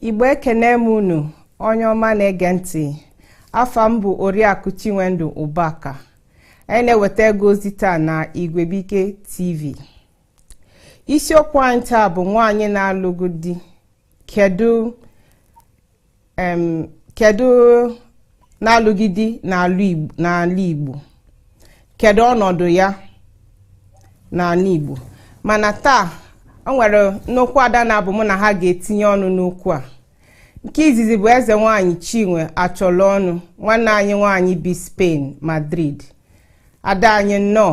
igbo ekene m unu onye ọma na-ege ntị afa m bụ oriakụ chinwendu ụbaka anyị na-ewetara gị ozi taa na igwebuike tv isiokwu anyị taa bụ nwaanyị na-alụghị di kedu em kedu na-alụghị di n'ala Igbo kedu ọnọdụ ya n'ala Igbo mana taa o nwere nnukwu ada naabọ mụ na ha ga-etinye ọnụ n'okwu a nke izizi bụ eze nwanyị Chinwe Achọlọnụ nwanne anyị nwanyị bi Spain Madrid ada anyị nnọọ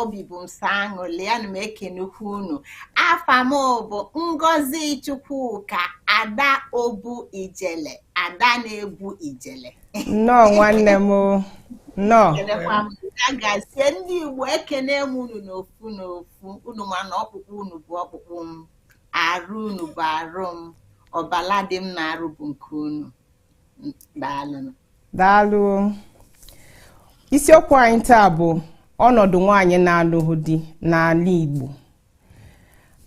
obi bụ m sọ aṅụli ana m ekenekwu unu afa m bụ ngozi chukwuka ada obu ijele ada na-ebu ijele nnọọ nwanne m nnọọ kelekwa m ya gazie ndị igbo ekene m unu n'ofu n'ofu unu ma na ọkpụkpụ unu bụ ọkpụkpụ m arụ unu bụ arụ m ọbala dị m n'arụ bụ nke unu daalụ daalụ isiokwu anyị taa bụ ọnọdụ nwaanyị na-alụghị di n'ala Igbo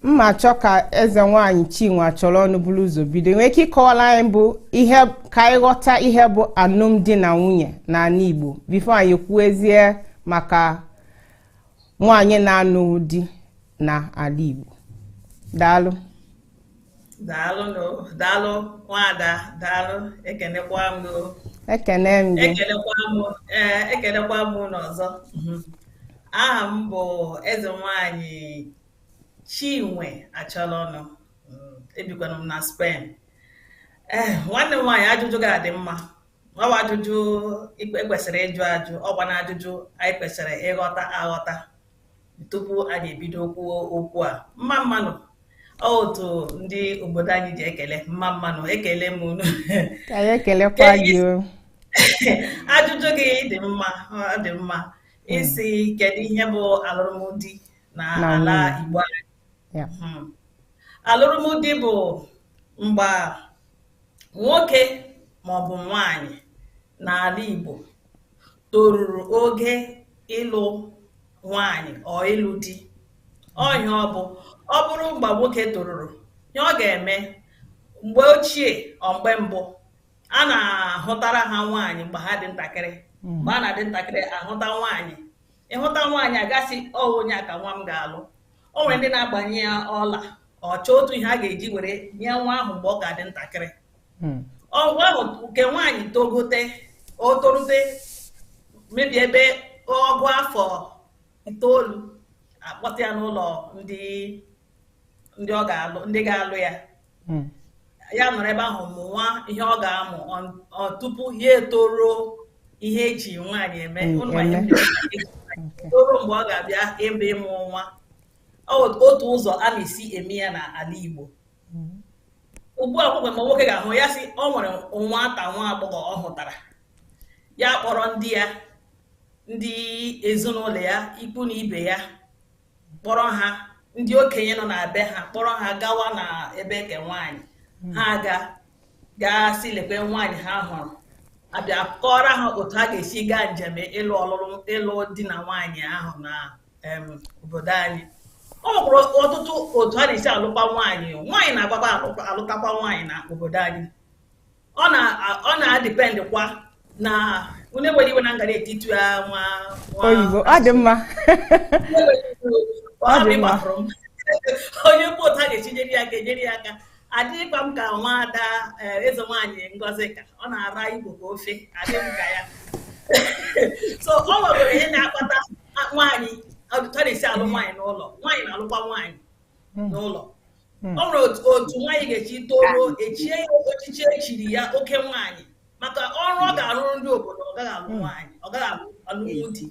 m ma-achọ ka eze nwaanyị Chinwe Achọlọnụ buru ụzọ bido nwee ike ịkọwara anyị bụ ihe ka anyị ghọta ihe bụ alụmdi na nwunye n'ala Igbo before anyị kwuezie maka nwaanyị na-alụghị di n'ala Igbo daalụ daalụ nụ daalụ nwada daalụ ekenekwa m nụ ekene m gị ekelekwa m ee ekelekwa m unu ọzọ Mhm. aha m bụ eze nwanyị chinwe achọlọnụ Mm, ebikwanụ m na Spain ee nwanne m nwaanyị ajụjụ gị a dị mma ọ bụ ajụjụ e kwesịrị ịjụ ajụ ọkwa na ajụjụ anyị kwesịrị ịghọta aghọta tupu anyị ebido kwuo okwu a mma mma nụ ọ otu ndị obodo anyị ji ekele mma mma nụ ekele m unu ka ya ekelekwa gị o ajụjụ gị dị mma ọ dị mma ị sị kedu ihe bụ alụmdi na nwunye. N'ala Igbo anyị Ya. Mhm. alụmdi bụ mgbe nwoke maọbụ nwanyị n'ala Igbo toruru oge ịlụ nwaanyị or ịlụ di. Ọ ihe ọ bụ. Ọ bụrụ mgbe nwoke toruru, ihe ọ ga-eme, mgbe ochie or mgbe mbụ, a na-ahụtara ha nwaanyị mgbe ha dị ntakịrị. Mgbe a na-adị ntakịrị, ahụta nwaanyị. Ị hụta nwaanyị, a ga-asị ọ wụ onye a ka nwa m ga-alụ. O nwere ndị na-agbanye ya ọla, or chọọ otu ihe a ga-eji were nye nwa ahụ mgbe ọ ka dị ntakịrị. hmm. ugbu ahụ nke nwaanyị togote o torute maybe ebe ọ bụ afọ itoolu a kpọta ya n'ụlọ ndị ndị ọ ga-alụ ndị ga-alụ ya hmm. ya nọrọ ebe ahụ mụwa ihe ọ ga-amụ tupu ya etoro ihe e ji nwaanyị eme hmm, toro mgbe ọ ga-abịa ebe ịmụ nwa otu ụzọ a na-esi eme ya n'ala Igbo hmm. ugbu a kpọkwe ma nwoke ga-ahụ ya sị o nwere nwata nwa agbọghọ ọ hụtara ya kpọrọ ndị ya ndị ezinụlọ ya ikwu na ibe ya kpọrọ ha ndị okenye nọ na be ha kpọrọ ha gawa na ebe nke nwaanyị hmm. ha ga gaa sị lekwe nwaanyị ha hụrụ a bịa kọọrọ ha otu ha ga-esi gaa njem ịlụ ọlụlụ ịlụ di na nwaanyị ahụ na obodo anyị o nwekwara ọtụtụ otu a na-esi alụkwa nwaanyị nwaanyị na-agbakwa alụtakwa nwaanyị na obodo anyị ọ na-adependkwa na onye nwere iwe na ngara etiti ya nwa oyibo ọ dị mma ọ dị mma onye mkpụ otu a ga-esi nyere ya aka enyere ya aka adịghịkwa m ka nwaada eh, eze nwaanyị Ngozika ọ na-ara Igbo ka ofe adịghị m ka ya so o nwere ihe na-akpata nwaanyị otu a na-esi alụ nwaanyị n'ụlọ nwaanyị na-alụkwa nwaanyị hmm. n'ụlọ hmm. o nwere otu nwaanyị ga-eji toro e chie ya ochichi e chiri ya oke nwaanyị maka ọrụ ọ ga-arụrụ ndị obodo ọ gaghị alụ hmm. nwaanyị ọ gaghị alụ alụmdi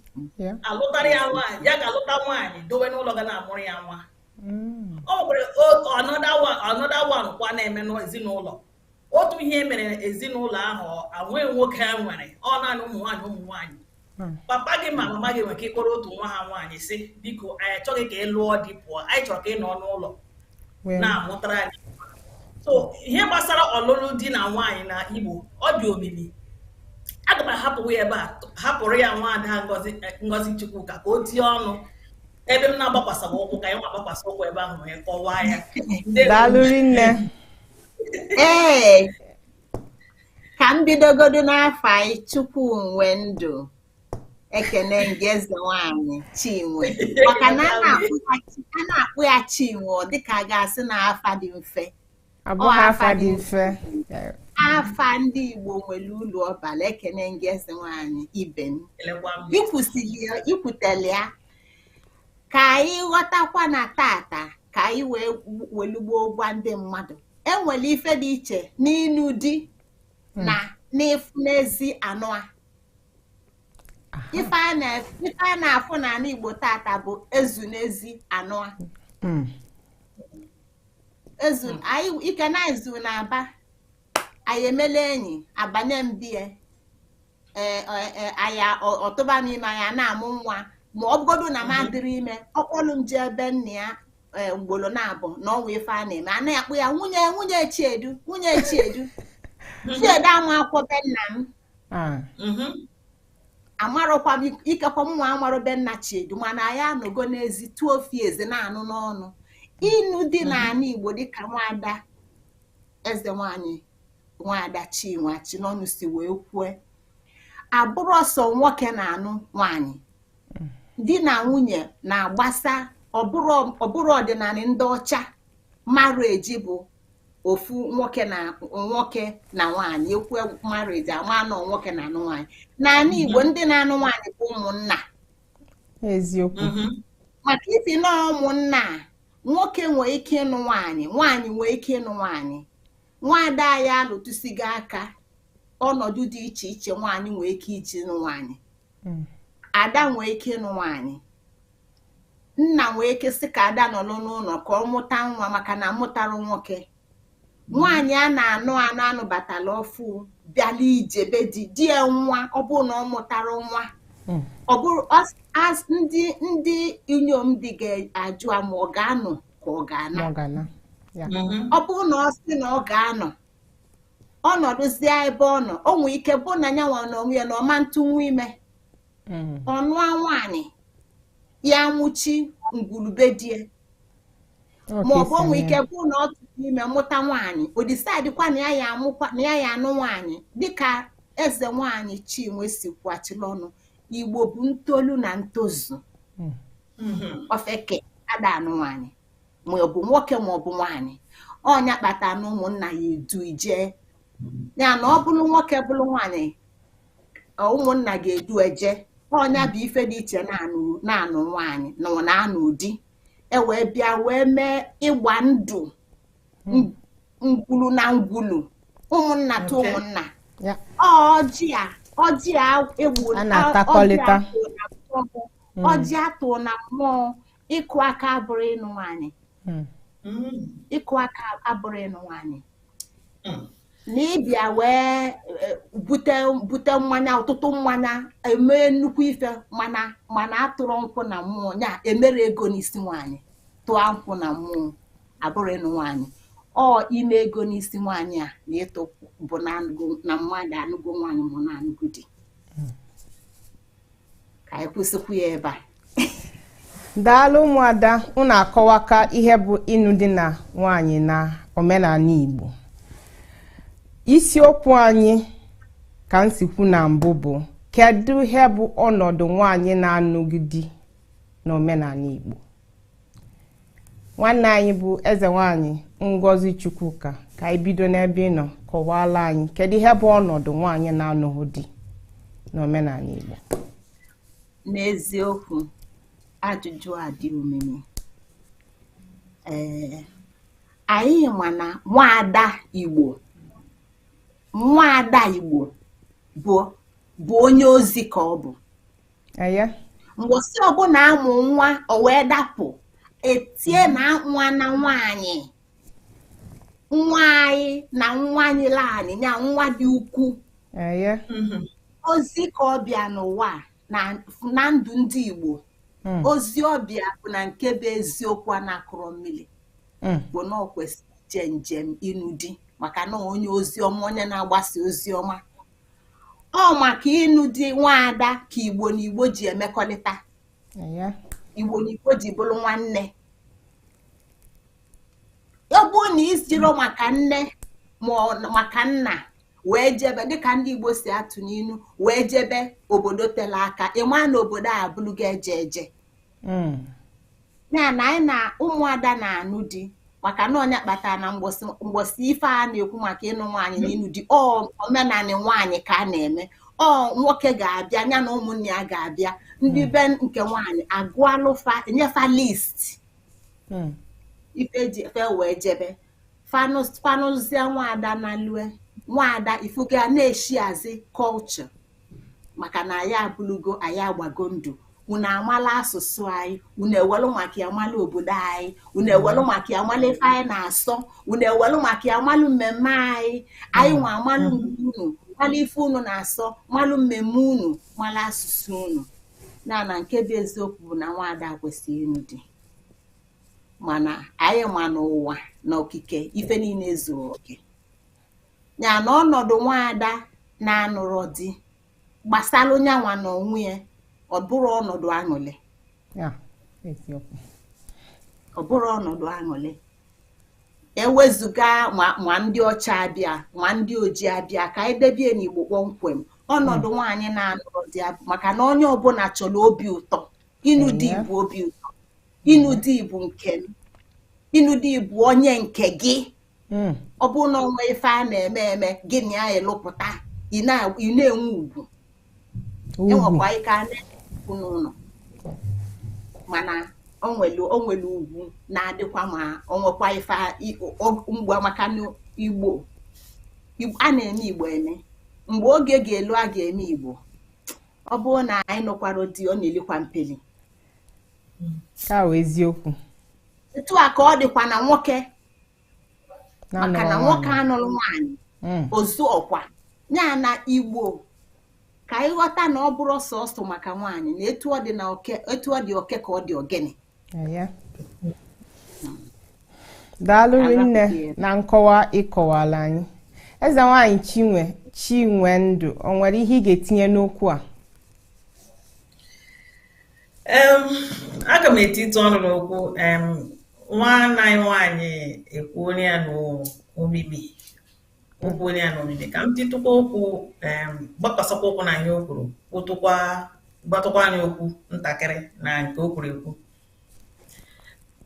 a lụtara ya nwaanyị ya ga-alụta nwaanyị dowe n'ụlọ ga na-amụrụ ya nwa mm. o nwekwara another one kwa na-eme n'ezinụlọ otu ihe mere ezinụlọ ahụ enweghị nwoke ha nwere ọ naanị ụmụ nwaanyị ụmụ nwaanyị hmm. papa gị ma mama gị nwere ike ịkpọrọ otu nwa ha nwaanyị sị biko anyị achọghị ka ị lụọ di pụọ anyị chọrọ ka ị nọ n'ụlọ na-amụtara anyị so ihe gbasara ọlụlụ di na nwaanyị na Igbo ọ dị omimi aga m ahapụwa ya ebe a hapụrụ ya nwaada Ngozi Chukwuka ka o tie ọnụ ebe m na-agbakwasawa ụkwụ ka anyị nwa gbakwasa ụkwụ ebe ahụ wee kọwaa ya daalụ rinne ee ka m bidogodu n'afa gị Chukwunwendụ ekene m gị eze nwanyị Chinwe maka na a na-akpọ ya Chinwe ọ dịka a ga-asị na afa dị mfe abụghị afa dị mfe afa ndị Igbo nwere ulu ọ bala ekene m gị eze nwaanyị ibe m i kwutele ya ka anyị ghọtakwa na tata ka anyị wee welu gboo gwa ndị mmadụ e nwere ife dị iche n'ịnụ di hmm. na n'ịfụ n'ezi a nụa ife a na-afụ n'ana Igbo tata bụ e zu n'ezi a nụa hmm. ezu hmm. anyị ike na ezu na aba anyị emela enyi abanye m be ya e, e, e, anyị ọ tụba m ime anyị na-amụ nwa ma ọ bụgodu na m adịrị ime ọ kpọlụ m jee be nna ya ugboro naabọ n'ọnwa ife a na-eme a na-akpọ ya nwunye nwunye chiedu nwunye chiedu chiedu amarọkwa be nna m ah. mhm. amarọkwa m ikekwa mụnwa amarọ be nna chiedu mana anyị anụgo n'ezi tụọ ofi eze na-anụ n'ọnụ ịnụ di mhm. n'anị igbo dịka nwada eze nwanyị nwada chinwe chinọnụ si wee kwue abụrọ sọ nwoke na-anụ nwanyị mm. di na nwunye na-agbasa ọ bụrụ ọdịnala ndị ọcha marriage bụ ofu nwoke na nwoke na nwaanyị ekwu marriage ama anọ nwoke na-anụ nwaanyị n'anị Igbo mhm. ndị na-anụ nwaanyị bụ ụmụnna eziokwu mhm. maka ifi na ụmụnna nwoke nwee ike ịnụ nwaanyị nwaanyị nwee ike ịnụ nwaanyị nwaada ya alụtụsigo aka ọnọdụ dị iche iche nwaanyị nwee ike iji nụ nwaanyị hmm. ada nwee ike ịnụ nwaanyị nna nwee ike sị ka ada nọrọ n'ụlọ ka ọ mụta nwa maka na amụtarọ nwoke nwaanyị a na-anụ anụ anụbatala ọfụụ bịala ije be di di ya nwụa ọ bụrụ na ọ mụtara nwa hmm. ọ bụrụ ndị ndị inyom di ga-ajụ ma ọ ga-anọ ka ọ ga-ana mm-hmm. ọ bụrụ na ọ sị na ọ ga-anọ ọ nọdụzie ebe ọ nọ o nwee ike bụ na ya nwa na onwe ya na ọ ma ntụnwu ime hmm. ọ nụa nwaanyị ya mụchi ngwulu be di e ma ọ bụ o nwee ike bụ na ọ tụrụ ime mụta nwaanyị o decide kwa na ya ya amụkwa na ya ya anụ nwaanyị dịka eze nwaanyị chinwe si kwu achila ọnụ igbo bụ ntolu na ntozu hmm. ofeke ada anụ nwaanyị ma ọ bụ nwoke ma ọ bụ nwaanyị ọ nya kpata na ụmụnna ya edu ije ya na ọ bụrụ nwoke bụrụ nwaanyị ụmụnna ga-edu eje ọ nya bụ ife dị iche na-anụ nwaanyị na ọ na-anụ di e wee bịa wee mee ịgba ndụ hmm. ngwulu na ngwulu ụmụnna to ụmụnna ọjị a ọjị a egbu ọjị a tụ na mmụọ hmm. ịkụ aka abụrọ ịnụ nwaanyị hmm. Hmm. ịkụ aka abụrọ ịnụ nwaanyị hmm. na ị bịa wee e, bute bute mmanya ọtụtụ mmanya emee nnukwu ife mana mana atụrọ nkwụ na mmụọ ya emerọ ego n'isi nwaanyị tụọ nkwụ na mmụọ abụrọ ịnụ nwaanyị ọ ime ego n'isi nwaanyị a na ịtụ bụ na mmadụ anụgo nwaanyị mụ na anụgo di ka anyị kwụsịkwa ebe a daalụ ụmụada unu akọwaka ihe bụ ịnụ di na nwaanyị n'omenala Igbo isiokwu anyị ka m si kwu na mbụ bụ kedu ihe bụ ọnọdụ nwaanyị na-anụghị di n'omenala Igbo nwanne anyị bụ eze nwaanyị ngozi chukwuka ka anyị bido n'ebe ị nọ kọwaala anyị kedu ihe bụ ọnọdụ nwaanyị na-anụghị di n'omenala igbo n'eziokwu ajụjụ a dị omimi ee anyị ma na nwaada igbo nwaada igbo bụ bụ onye ozi ka ọ bụ mgbọsị ọbụla a mụ nwa o wee dapụ e tie na nwa na nwaanyị nwaanyị na nwa nyịlị anyị ya nwa dị ukwu mhm. ozi ka ọ bịa n'ụwa na ndụ ndị Igbo hmm. ozi ọ bịa bụ na nke bụ eziokwu a na-akụrọ mmiri hmm. bụ na ọ kwesịrị ije njem ịnụ di maka na onye ozi ọma onye na-agbasa ozi ọma ọ maka ịnụ di nwaada ka igbo na igbo ji emekọrịta igbo na igbo ji bụrụ nwanne ọ bụrụ na i jiro maka nne ma maka nna wee jebe dịka ndị igbo si atụ n'inu wee jebe obodo tele aka ị ma na obodo a bụlụga eje eje hmm. ya na anyị na ụmụada na-anụ di maka na ọ nya kpatara na mgbọsị ife a na-ekwu maka ịnụ nwaanyị na ịnụ di ọ omenanị nwaanyị ka a na-eme ọ nwoke ga-abịa ya na ụmụnna ya ga-abịa ndị hmm. be nke nwaanyị agụalụ fa enye fa list hmm. ife ji efe wee jebe fa nụzie nwaada na lue nwaada i fugo a na-esharezi culture maka na anyị abụlụ ọgọ anyị agbago ndụ unu amala asụsụ anyị unu ewelụ maka ya mala obodo anyị unu ewelụ maka ya mala ife anyị na-asọ unu ewelụ maka ya malụ mmemme anyị anyị nwa amalụ nke unu mala ife unu na-asọ malụ mmemme unu mala asụsụ unu na na nke bụ eziokwu bụ na nwaada kwesịrị ịnụ di mana anyị ma n'ụwa na okike ife niile ezuro oke ya na ọnọdụ nwaada na-anụrọ di gbasalụ nya nwa n'onwe ya ọ bụrọ ọnọdụ aṅụlị ya eziokwu ọ bụrọ ọnọdụ aṅụlị ewezụga ma ma ndị ọcha abịa ma ndị ojii abịa ka anyị debe ya n'igbo kpọmkwem ọnọdụ nwaanyị na-anụrọ di ya maka na onye ọbụla chọrọ obi ụtọ ịnụ di Ehe. bụ obi ụtọ ịnụ di bụ nke m ịnụ di bụ onye nke gị hmm. ọ bụrụ na o nwe ife a na-eme eme gị na ya elụpụta ị na-enwe ugwu enwekwa ike a na-ekwu n'ụnọ mana onwelu onwelu ugwu na-adịkwa ma onwekwa ife mgbe maka igbo a na-eme igbo eme mgbe oge ga-elu a ga-eme igbo ọ bụrụ na nwaanyị anụkwarọ di ọ na-elikwa mpeli ka eziokwu etu a ka ọ dịkwa na nwoke maka na nwoke anụrọ nwaanyị hmm. ozu ọkwa ya na igbo ka anyị ghọta na ọ bụrọ sọsọ maka nwaanyị na etu ọ dị na oke etu ọ dị oke ka ọ dị ogini daalụ rinne na nkọwa ị kọwalụ anyị eze nwaanyị chinwe chinwendụ o nwere ihe ị ga-etinye n'okwu a aga m etitụ ọnụ n'okwu nwanne anyị nwaanyị ekwuola ya n'omimi o kwuola ya n'omimi ka m titụkwa okwu gbakwasakwa ụkwụ na ihe o kwuru kpụtụkwa gbatụkwanụ okwu ntakịrị na nke o kwuru ekwu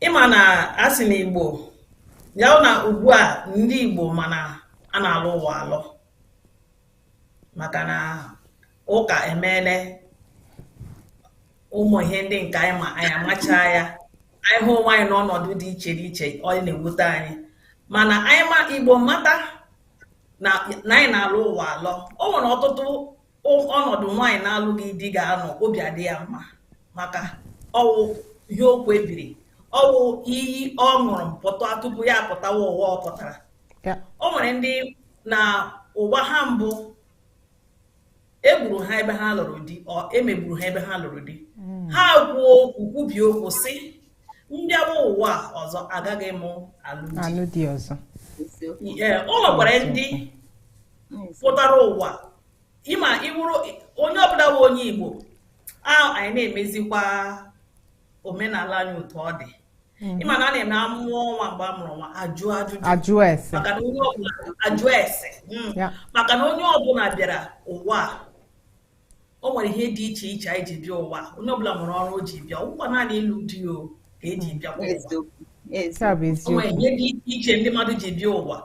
ị ma na a sị na igbo ya wụ na ugbu a ndị igbo ma na a na-alọ ụwa alọ maka na ụka emeele ụmụ ihe ndị nke anyị ma anyị amachaa ya anyị hụ onwe anyị n'ọnọdụ dị iche dị iche ọ na-ewute anyị mana anyị ma igbo mata na na anyị na-alọ ụwa alọ o nwere ọtụtụ o- ọnọdụ nwaanyị na-alụghị di ga-anọ obi adị ya mma maka ọ wụ ihe o kwebiri ọ wụ iyi ọ ṅụrụ pụta tupu ya apụtawa ụwa ọ pụtara o nwere ndị na ụwa ha mbụ e gburu ha ebe ha lụrụ di ọ e megburu ha ebe ha lụrụ di hmm. ha kwuo okwu kwubie okwu sị m bịaba ụwa ọzọ agaghị m alụ di ọzọ o nwekwara ndị pụtara ụwa ị ma ị wụrụ onye ọbụla bụ onye Igbo a anyị na-emezikwa omenala anyị otu ọ dị mhm. ị ma na a na-eme a mụọ nwa mgbe a mụrụ nwa ajụ ajụjụ ajụ ese hmm. maka na onye ọbụla bịara ụwa o nwere ihe dị iche iche anyị ji bịa ụwa onye ọbụla nwere ọrụ o ji bịa ọ bụghị naanị ịlụ di o ka e ji bịa ụwa o nwere ihe dị iche iche ndị mmadụ ji bịa ụwa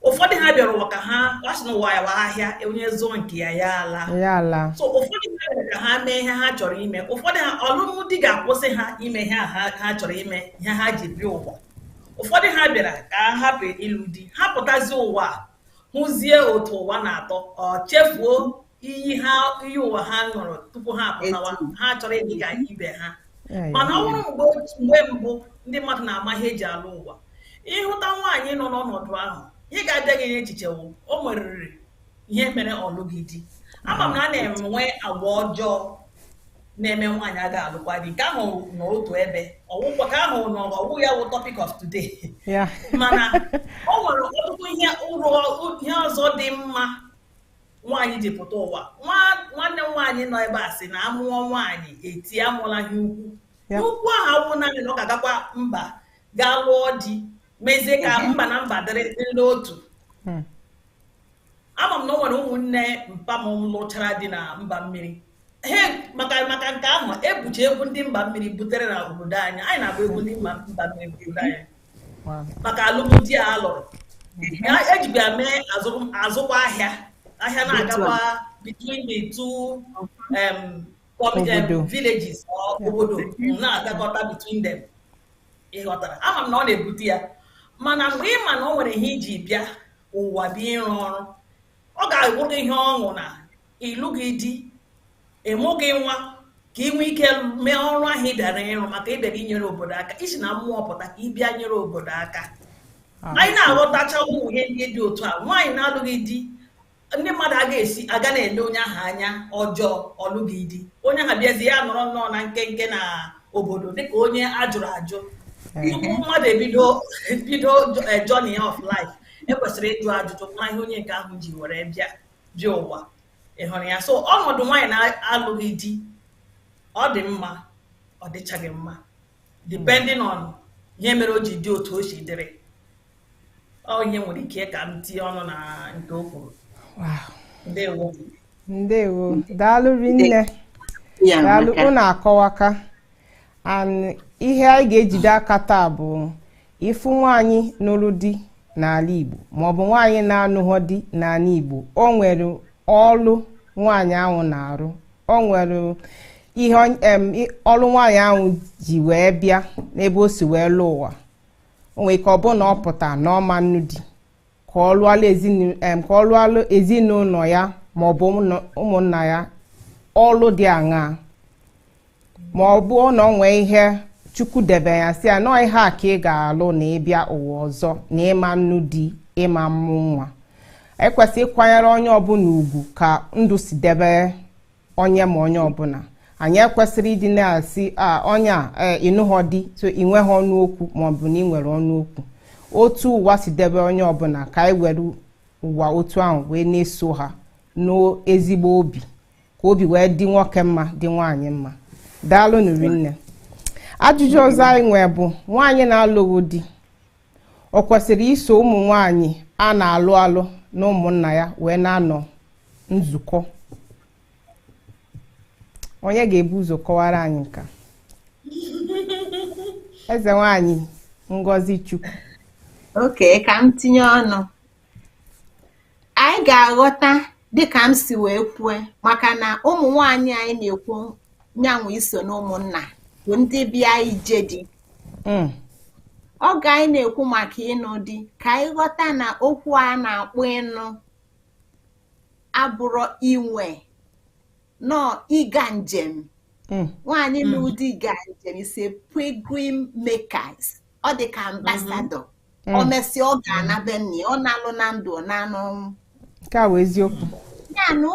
ụfọdụ ha bịara ụwa ka ha a sị na ụwa wụ ahịa onye zụọ nke ya ya ala ya ala so ụfọdụ ha bịara ka ha mee ihe ha chọrọ ime ụfọdụ ha ọlụlụ di ga-akwụsị ha ime ihe a ha ha chọrọ ime ihe ha ji bịa ụwa ụfọdụ ha bịara ka ha hapụ ịlụ di ha pụtazi ụwa a, hụzie otu ụwa na-atọ ọ chefuo iyi ha iyi ụwa ha ṅụrụ tupu ha apụta ụwa ha chọrọ ịdị ka ibe ha mana ọ bụrụ mgbe mgbe mbụ ndị mmadụ na-ama ihe e ji alọ ụwa ị hụta nwaanyị nọ n'ọnọdụ ahụ ihe ga-abịa gị n'echiche wụ o nweriri ihe mere ọ lụghị di ama m na a na-enwe agwa ọjọọ na-eme nwaanyị aga alụkwa di nke ahụ nọ otu ebe ọ wụkwa ka ahụ nọ ọ wụ ya wụ topic of today mana o nwere ọtụtụ ihe uru ihe ọzọ dị mma nwaanyị ji pụta ụwa nwanne nwaanyị nọ ebe a sị na a mụọ nwaanyị e tie amụla ihe ukwu ihe ukwu ahụ awụ naanị na ọ ga-agakwa mba gaa lụọ di mezie ka mba na mba dịrị n'otu hmm. ama m na o nwere ụmụnne mpa m lụchara di na mba mmiri maka maka nke ahụ ebucha egwu ndị mba mmiri butere na obodo anyị anyị na-agba egwu ndị mba mmiri obodo anyị maka alụmdi a a lụrụ e jikwa ya mee azụkwa ahịa ahịa na-agakwa between the two um, um, villages obodo na-agakọta between them ị ghọtara ama m na ọ na-ebute ya mana mgbe ị ma na o nwere ihe i ji bịa ụwa bịa ịrụ ọrụ ọ ga-awụrụ ihe ọṅụ na ị lụghị di ị mụghị nwa ka i nwee ike mee ọrụ ahụ ị bịara ịrụ maka ị bịara inyere obodo aka i si na mmụọ pụta ka ị bịa nyere obodo aka anyị na-aghọtacha ụmụ ihe ndị dị otu a nwaanyị na-alụghị di ndị mmadụ aga esi aga na-ele onye ahụ anya ọjọọ ọ lụghị di onye ahụ bịazia nọrọ nnọọ na nkenke na obodo dịka onye a jụrụ ajụ tupu mmadụ ebido bido journey of life e kwesịrị ịjụ ajụjụ mara ihe onye nke ahụ ji were bịa bịa ụwa ị hụrụ ya so ọnọdụ nwaanyị na-alụghị di ọ dị mma ọ dịchaghị mma depending on ihe mere o ji dị otu o si dịrị ọ ihe nwere ike ka m tinye ọnụ na nke o kwuru Wow. ndewo ndewo daalụ rinne Ya daalụ amaka. unu akọwaka and ihe anyị ga-ejide aka taa bụ ị fụ nwaanyị nụrụ di n'ala Igbo maọbụ nwaanyị na-anụghọ di n'ala Igbo o nwere ọlụ nwaanyị ahụ na-arụ o nwere ihe ọlụ nwaanyị ahụ ji wee bịa n'ebe o si wee lụọ ụwa o nwere ike ọ bụrụ na ọ pụta na ọ ma nnụ di ka ọ lụọla ezinu- em, ka ọ lụọla ezinụlọ ya ma ọ bụ ụmụnna- ụmụnna ya ọlụ dị aṅaa ma ọ bụ na o nwee ihe Chukwu debe ya sị ya na ọ ihe a ka ị ga-alụ na ị bịa ụwa ọzọ na ị ma nnụ di ị ma mmụ nwa e kwesị ịkwanyere onye ọbụla ugwu ka ndụ si debe onye ma onye ọbụla anyị ekwesịghị ịdị na-asị a onye a ee, ịnụghọ di so ị nweghị ọnụ okwu ma ọ bụ na ị nwere ọnụ okwu otu ụwa si debe onye ọbụla ka anyị were ụwa otu ahụ wee na-eso ha n'ezigbo obi ka obi wee dị nwoke mma dị nwaanyị mma daalụ nụ rinne ajụjụ ọzọ anyị nwee bụ nwaanyị na-alụghị di ọ kwesịrị iso ụmụ nwanyị a na-alụ alụ na ụmụnna ya wee na-anọ nzukọ onye ga-ebu ụzọ kọwara anyị nke a eze nwanyị ngozi chukwu okay ka m tinye ọnụ anyị ga-aghọta dịka m si wee kwue maka na ụmụ nwaanyị anyị na-ekwu nyanwụ iso na ụmụnna bụ ndị bịa ije di mm. oge anyị na-ekwu maka ịnụ dị ka anyị ghọta na okwu a na-akpọ ịnụ abụrọ inwe na ọ ịga njem mm. nwaanyị nụ mm. di ga njem is a pilgrim because ọ dị ka ambassador o mm. mesịa ọ ga-ana be nna ọ narọ na ndụ ọ naa n'ọnwụ nke a wụ eziokwu ya na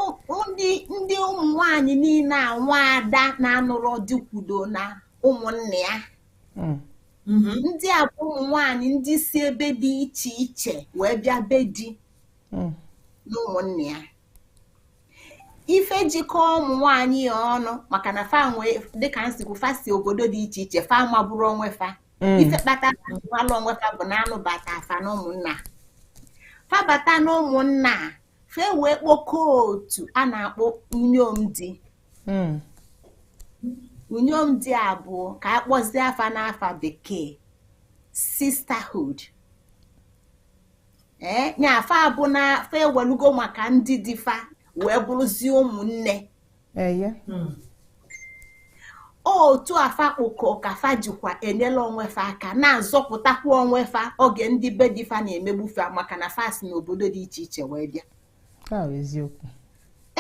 ndị ụmụ nwanyị niile a nwaada na-anụrọ di kwudo na ụmụnna mm. mm-hmm. ndị a bụ ụmụ nwanyị ndị si ebe dị iche iche wee bịa be di mm. na ụmụnna ife jikọọ ụmụ nwanyị a ọnụ maka na fa nwee dịka m si kwu fa si obodo dị iche iche fa amaburọ onwe fa mm. ife kpata fa malụ onwe fa bụ na a nụbata fa na ụmụnna fa bata na ụmụnna fa ewee kpokọọ otu a na-akpọ unyom di mm. unyom di a bụ ka a kpọzie afa n'afa bekee sisterhood ee eh, nya ife a bụ na fa ewelugo maka ndị di fa wee bụrụzie ụmụnne eye hmm. otu a fa kpọkọ ka fa jikwa enyela onwe fa aka na-azọpụtakwa onwe fa oge ndị be di fa na-emegbu fa maka na fa si na obodo dị iche iche wee bịa eziokwu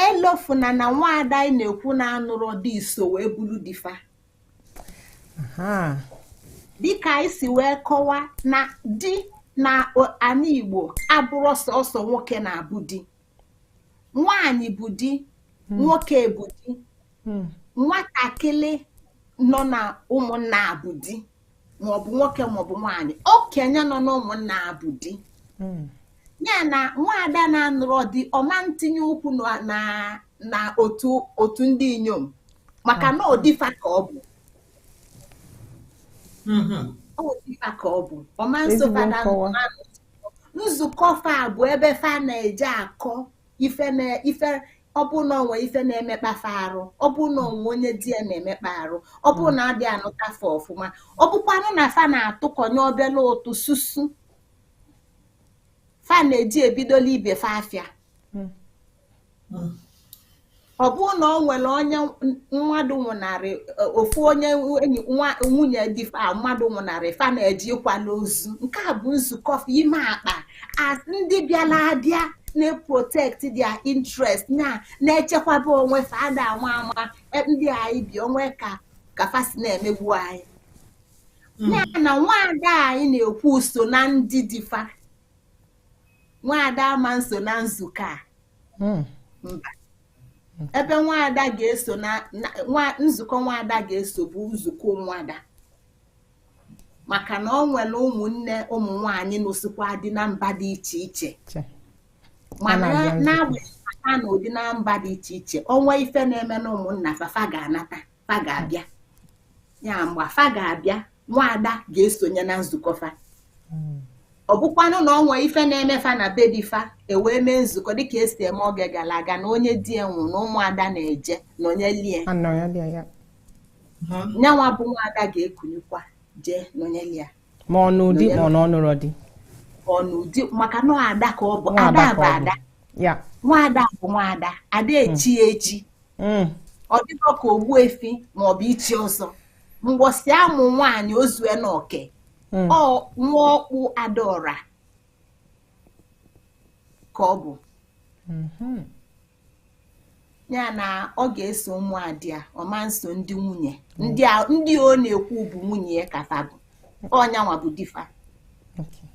elofuna na nwaada anyị na-ekwu na-anụrọ di iso wee bụlụ di fa dịka anyị si wee kọwa na di na ana igbo abụrọ sọsọ nwoke na-abụ di nwaanyị bụ di hmm. nwoke bụ di hmm. nwatakịrị nọ na ụmụnna bụ di maọbụ nwoke maọbụ nwaanyị okenye nọ na ụmụnna bụ di hmm. ya na nwaada na-anụrọ di ọ ma ntinye ụkwụ na otu ndị inyom maka na ọ di fa ka ọ bụ mm-hmm. nzukọ fa bụ ebe fa na-eje akọ ife ọ bụ na ọ nwee ife na-emekpa fa arụ ọ bụ na ọ nwee onye di ya na-emekpa arụ ọ bụ na a dị anụta fa ọfụma ọ bụkwanụ na fa na-atụkọnye obele ụtụ susu fa na-eji ebidola ibe fa afịa hmm. ọ bụrụ na ọ nwere onye mmadụ nwụnarị e, ofu onye nwunye di fa mmadụ nwụnarị fa na-eje ịkwala ozu nke a bụ nzukọ ime akpa as ndị bịara abịa na-protect their interest na na-echekwaba onwe fa ada ama ama e, ndị anyị bi ọ nwee ka ka fa si na-emegbu anyị hmm. ya na nwaada anyị na-ekwu so na ndị di fa nwaada ama nso na nzukọ a hmm. mba ebe nwaada ga-eso na nzukọ nwaada ga-eso bụ nzukọ ụmụada maka na ọ nwere ụmụnne ụmụ nwanyị nụsịkwa di na mba dị iche iche mana na-agbanyeghị na anụ di na mba dị iche iche ọ nwee ife na-eme na ụmụnna fa fa ga-anata fa ga-abịa ya mgbe fa ga-abịa nwaada ga-esonye na nzukọ fa ọ bụkwanụ na ọ nwee ife na-eme fa na be di fa e wee mee nzukọ dịka e si eme oge gara aga na onye di ya nwụrụ na ụmụada na-eje nọnyelie nyanwa bụ nwaada ga-ekunyekwa jee nọnyelie ma ọ nụ di ma ọ nụrọ di ọ nụ di maka na ada ka ọ bụ ada bụ ada nwaada bụ nwaada ada hmm. echi echi hmm. ọ dịrọ ka ogbu efi ma ọ bụ ichi ọzọ mbọsị a mụ nwaanyị o zue na oke hmm. ọ nwa ọkpụ ada ọra ka ọ bụ ya na ọ ga-eso ụmụada ya ọ ma nso ndị nwunye ndị a- ndị ọ na-ekwu bụ nwunye ya ka fa bụ ọ nyanwa bụ di fa Okay.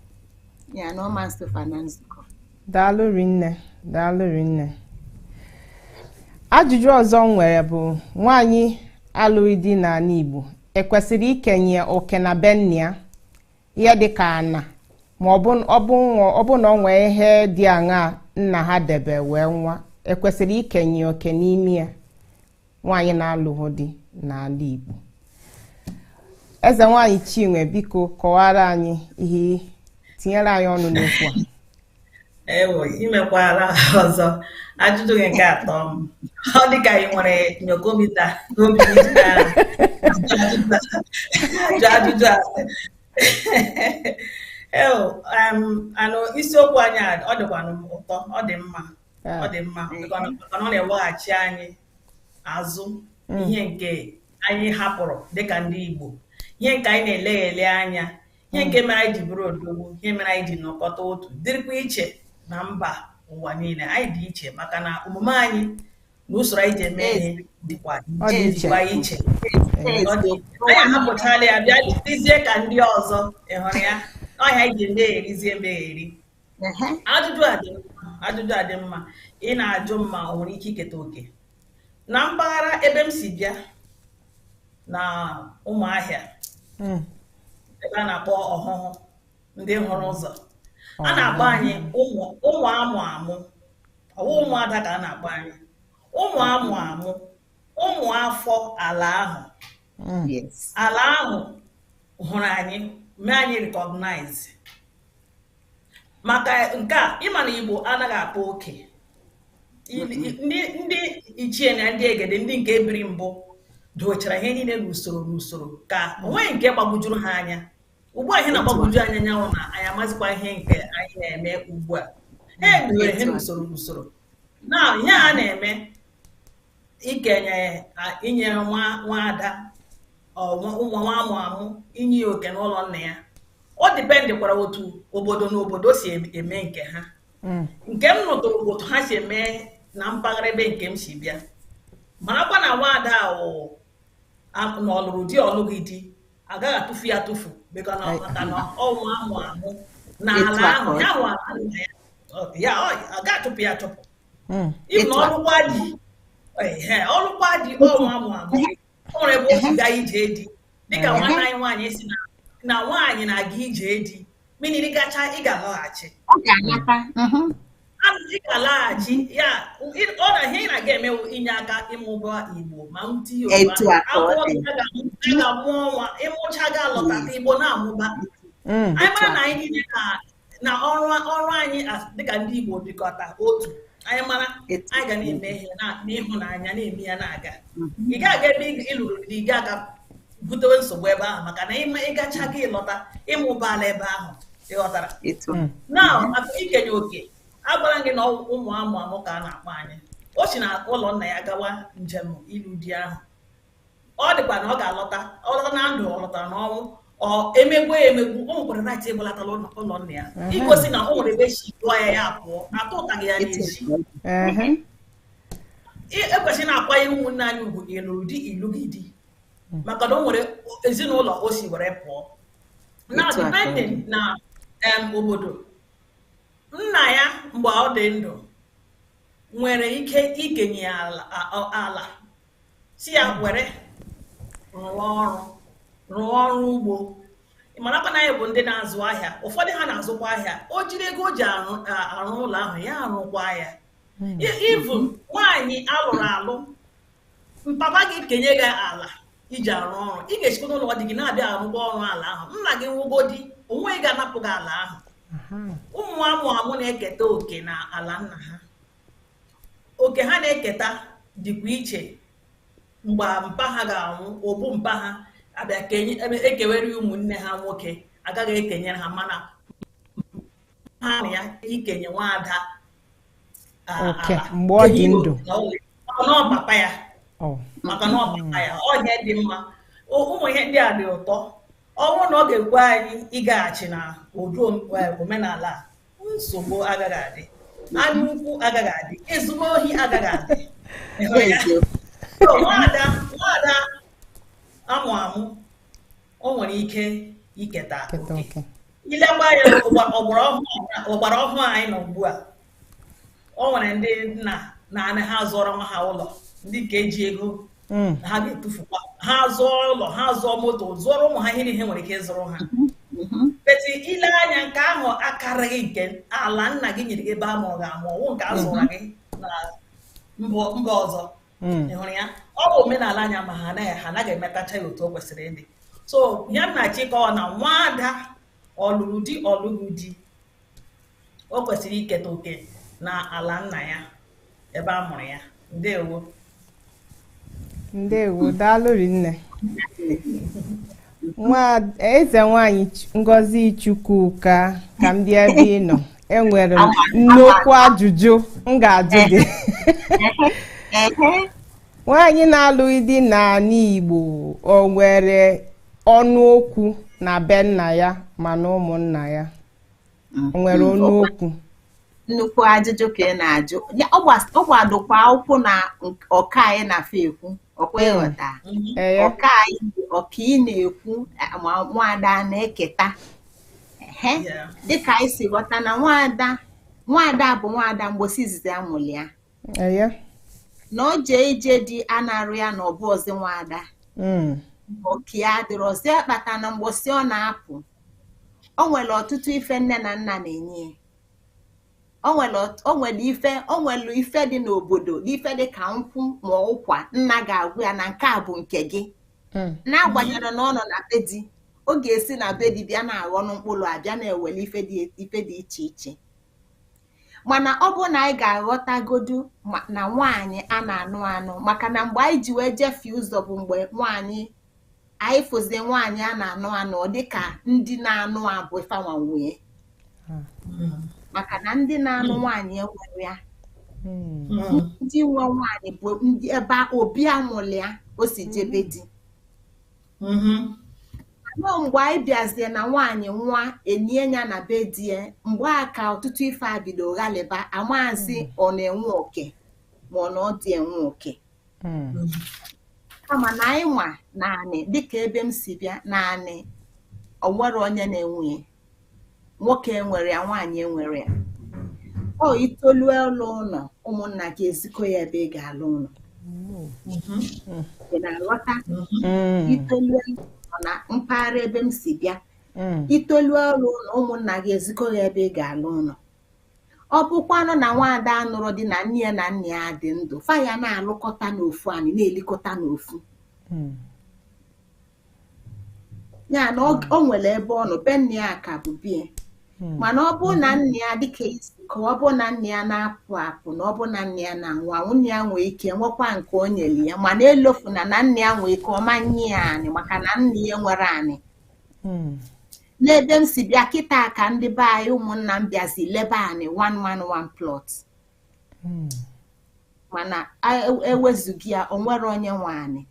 ya na ọ ma nso fa na nzukọ daalụ rinne daalụ rinne ajụjụ ọzọ m nwere bụ nwaanyị alụghị di n'ala igbo ekwesịrị ikenye oke na be nna ya ihe dị ka ana ma ọ bụ ọ bụ nwa- ọ bụ na ọ nwee ihe dị aṅaa nna ha debe wee nwụa ekwesịrị ikenye oke n'ime ya nwaanyị na-alụghị di n'ala Igbo eze nwaanyị Chinwe biko kọwaara anyị ihe tinyere anyị ọnụ n'okwu a ewo imekwala ọzọ ajụjụ gị nke atọ m ọ dị ka ị nwere nyokomita n'obi ajụ ajụjụ asị eo anụ isiokwu anyị ọ dịkwanụ m ụtọ ọ dị mma ọ dị mma maka na ọ na-eweghachi anyị azụ mm. ihe nke anyị hapụrụ dịka ndị Igbo ihe nke anyị na-eleghele anya ihe nke mere anyị ji bụrụ odogwu ihe mere anyị ji nọkọta otu dịrịkwa iche na mba ụwa niile anyị dị iche maka na omume anyị na usoro anyị ji eme ihe dịkwa iche anyị ahapụchala ya bịa dịzie ka ndị ọzọ ị hụrụ ya ọ ihe anyị ji emeherizie emeheri ajụjụ a dị mma ị na-ajụ ma o nwere ike iketa oke na mpaghara ebe m si bịa na Ụmụahịa hmm. ebe a na-akpọ Ọhụhụ ndị hụrụ ụzọ a na-akpọ anyị ụmụ amụ amụ ọ wụ ụmụada ka a na-akpọ anyị ụmụ amụ amụ ụmụ afọ ala ahụ hmm. ala ahụ hụrụ anyị mee anyị recognize maka nke a ị ma na Igbo anaghị akpa oke ndị ichie na ndị egede ndị nke biri mbụ dochara ihe niile n'usoro n'usoro ka o nweghị nke gbagwojuru ha anya ugbu a ihe na-agbagwoju anyị anya wụ na anyị amazikwa ihe nke anyị na-eme ugbu a ha ebidoro ihe n'usoro n'usoro na ihe ha na-eme ikenye inye nwa nwa ada ụmụ nwa amụ amụ inye ya oke n'ụlọ nna ya ọ dependịkwara otu obodo na obodo si eme nke ha mm. nke m nụtụrụ otu ha si eme na mpaghara ebe nke m si bịa marakwa na nwaada ahụ na ọ lụrụ di ọ lụghị di a gaghị atụfu ya atụfu maka na ọ nwa amụ amụ na ala ahụ ya nwa ya a gaghị achụpụ ya achụpụ hmm. ịbụ na ọ lụkwa di ọ lụkwa di ọ nwa amụ amụ o nwere ebe o si gaa ije di dịka hmm. nwanne anyị nwaanyị sị na nwaanyị na-aga ije di meaning ị gacha ị ga-alọghachi hmm. ị ga-alaghachi ya ọ na ihe ị na-aga eme wụ inye aka ịmụba Igbo ma mti Yoruba ga-amụ nwa ị mụcha ga-alọta Igbo na-amụba anyị mara na anyị niile na na ọrụ ọrụ anyị dịka ndị Igbo dịkọta otu anyị mara anyị ga na-eme ihe n'ịhụnanya na-eme ya na-aga ị ga-aga ebe ị lụrụ di gị aga butewe nsogbu ebe ahụ maka na ị gacha gị lọta ị mụbaala ebe ahụ ị ghọtara hmm. na ikenye oke agwara m gị na ụmụ amụ amụ ka a na-akpọ anyị o si na ụlọ nna ya gawa njem ịlụ di ahụ ọ dịkwa na ọ ga-alọta ọ lọta na ndụ ọ lọta n'ọnwụ e megbuo ya emegbu o nwekwara right ịgbalata ụlọ ụlọ nna ya Ehe. igosi na o nwere ebe e si duo ya ya pụọ na atụtaghị ya n'ezi Ehe. E- ekwesịrị na-akwanye ụmụ nwaanyị ugwu ndị lụrụ di ị lụghị di maka na o nwere ezinụlọ o si were pụọ na Otu a ka ọ depending dị. na em, obodo nna ya mgbe ọ dị ndụ nwere ike ikenye ya ala a- a- ala si ya were rụọ ọrụ rụọ ọrụ ugbo marakwa na anyị bụ ndị na-azụ ahịa ụfọdụ ha na-azụkwa ahịa o jiri ego o ji arụ a- arụ ụlọ ahụ ya arụkwa ya even nwaanyị alụrụ alụ mpapa gị kenye gị ala iji arụ ọrụ ị ga-esikwa n'ụlọ di gị na-abịa arụkwa ọrụ ala ahụ nna gị nwụọgodi o nweghị ga-anapụ gị ala ahụ ụmụ amụ amụ na-eketa oke na ala nna ha oke ha na-eketa dịkwa iche mgbe mpa ha ga-anwụ obu mpa ha abịa kenye ebe ekewere ya ụmụnne ha nwoke agaghị ekenyere ha mana ya ikenye nwa ada a, Oke, ala. mgbe ọ dị Enyi ndụ. na ọ dị- maka na ọ papa ya Ọ. maka na ọ papa ya ọ ihe dị mma O- ụmụ ihe ndị a dị ụtọ ọ bụrụ na ọ ga-ekwe anyị ịgaghachi na ụdị om- eh, omenala a nsogbu agaghị adị anya ukwu agaghị adị nsogbu ohi agaghị adị nwada nwada amụ amụ o nwere ike iketa oke i lekwa ya ọgbara ọhụụ anyị nọ ugbu a o nwere ndị nna na-anọ ha azụọrọ nwa ha ụlọ ndị ka eji ego hmm. ha ga-etufukwa ha zụọ ụlọ ha zụọ moto zụọrọ ụmụ ha ihe niile nwere ike ịzụrụ ha hmm. Mm-hmm. but i lee anya nke ahụ akarịghị nke ala nna gị nyere gị ebe a mụrụ gị amụ ọ wụ nke a zụrụ gị na mba ọzọ mm. ị hụrụ ya ọ bụ omenala anyị mana ha anaghị ha anaghị emetacha ya otu o kwesịrị ịdị so ihe m na-achọ ịkọwa na nwaada ọ lụrụ di ọ lụghị di o kwesịrị iketa oke na ala nna ya ebe a mụrụ ya ndewo ndewo daalụ rinne eze nwanyị Ch- ngozi chukwuka ka m bịa ebe ị nọ enwere m nnukwu ajụjụ m ga-ajụ gị nwaanyị na-alụghị di n'ala igbo o nwere ọnụ okwu na be nna ya ma na ụmụnna ya mm, nwere mm, ọnụ okwu nnukwu ajụjụ ka ị na-ajụ ọ gbadokwa ụkwụ na oke anyị na-afọ ekwu ọkwa mm. ị ghọta oke anyị bụ oke ị na-ekwu ma nwaada na-eketa dịka anyị si ghọta na nwaada nwaada bụ nwaada mgbosi izizi amụlụ ya na ọ jee ije di anarọ ya na ọ bụrọzi nwaada oke ya dịrọzi akpata na mgbosi ọ na-apụ o nwere ọtụtụ ife nne na nna na-enye o nwere ife o nwere ife dị n'obodo ife dị ka nkwụ ma ụkwa nna ga-agwa ya na nke a bụ nke gị hmm. n'agbanyerọ na ọ nọ na be di ọ ga-esi na be di bịa na-aghọ mkpụrụ a bịa na-ewere ife dị iche iche mana ọ bụ na anyị ga-aghọtagodu na nwaanyị a na-anụ anụ maka na mgbe anyị ji wee jefie ụzọ bụ mgbe nwaanyị anyị fụzie nwaanyị a na-anụ anụ ọ dị ka ndị na-anụ ya bụ fa nwa nwee maka na ndị na-anụ nwaanyị enwerọ ya ndị nwe nwaanyị bụ ndị ebe obi amụlụ ya o si jebe di mm-hmm. nọọ mgbe anyị bịazie na nwaanyị nwa enye ya na be di ya mgbe a ka ọtụtụ ife a bido ghalịba amazi mm. ọ na-enwe oke ma ọ na ọ dị enwe oke mm. kama na anyị nwa na anị dịka ebe m si bịa na anị o nwerọ onye na-enwe nwoke enwerọ ya nwaanyị enwerọ ya ọ i tolue ịlụ ụlọ ụmụnna gị ezikọ ya ebe ị ga-alụ ụlọ ị na-aghọta i tolu ụlọ na mpaghara ebe m si bịa i tolu ịlụ ụlọ ụmụnna gị ezikọ ya ebe ị ga-alụ ụlọ ọ bụkwanụ na nwaada anụrọ di na nne ya na nna ya dị ndụ fa ya na-alụkọta n'ofu anyị na-elikọta n'ofu ya na o nwere ebe ọ nọ be nna ya ka bụ be ya hmm. mana ọ bụrụ na nna ya dịka i si ka ọ bụrụ na nna ya na-apụ apụ na ọ bụrụ na nna ya na-anwụ anwụ nna ya nwee ike nwekwa nke o nyere ya mana elofu na na nna ya nwee ike ọ ma nye ya anị maka na nna ya enwerọ anị hmm. n'ebe m si bịa kịta ka ndị be anyị ụmụnna m bịazi lebe anị one man one plot hmm. mana ewezuga ya o nwerọ onye nwe anị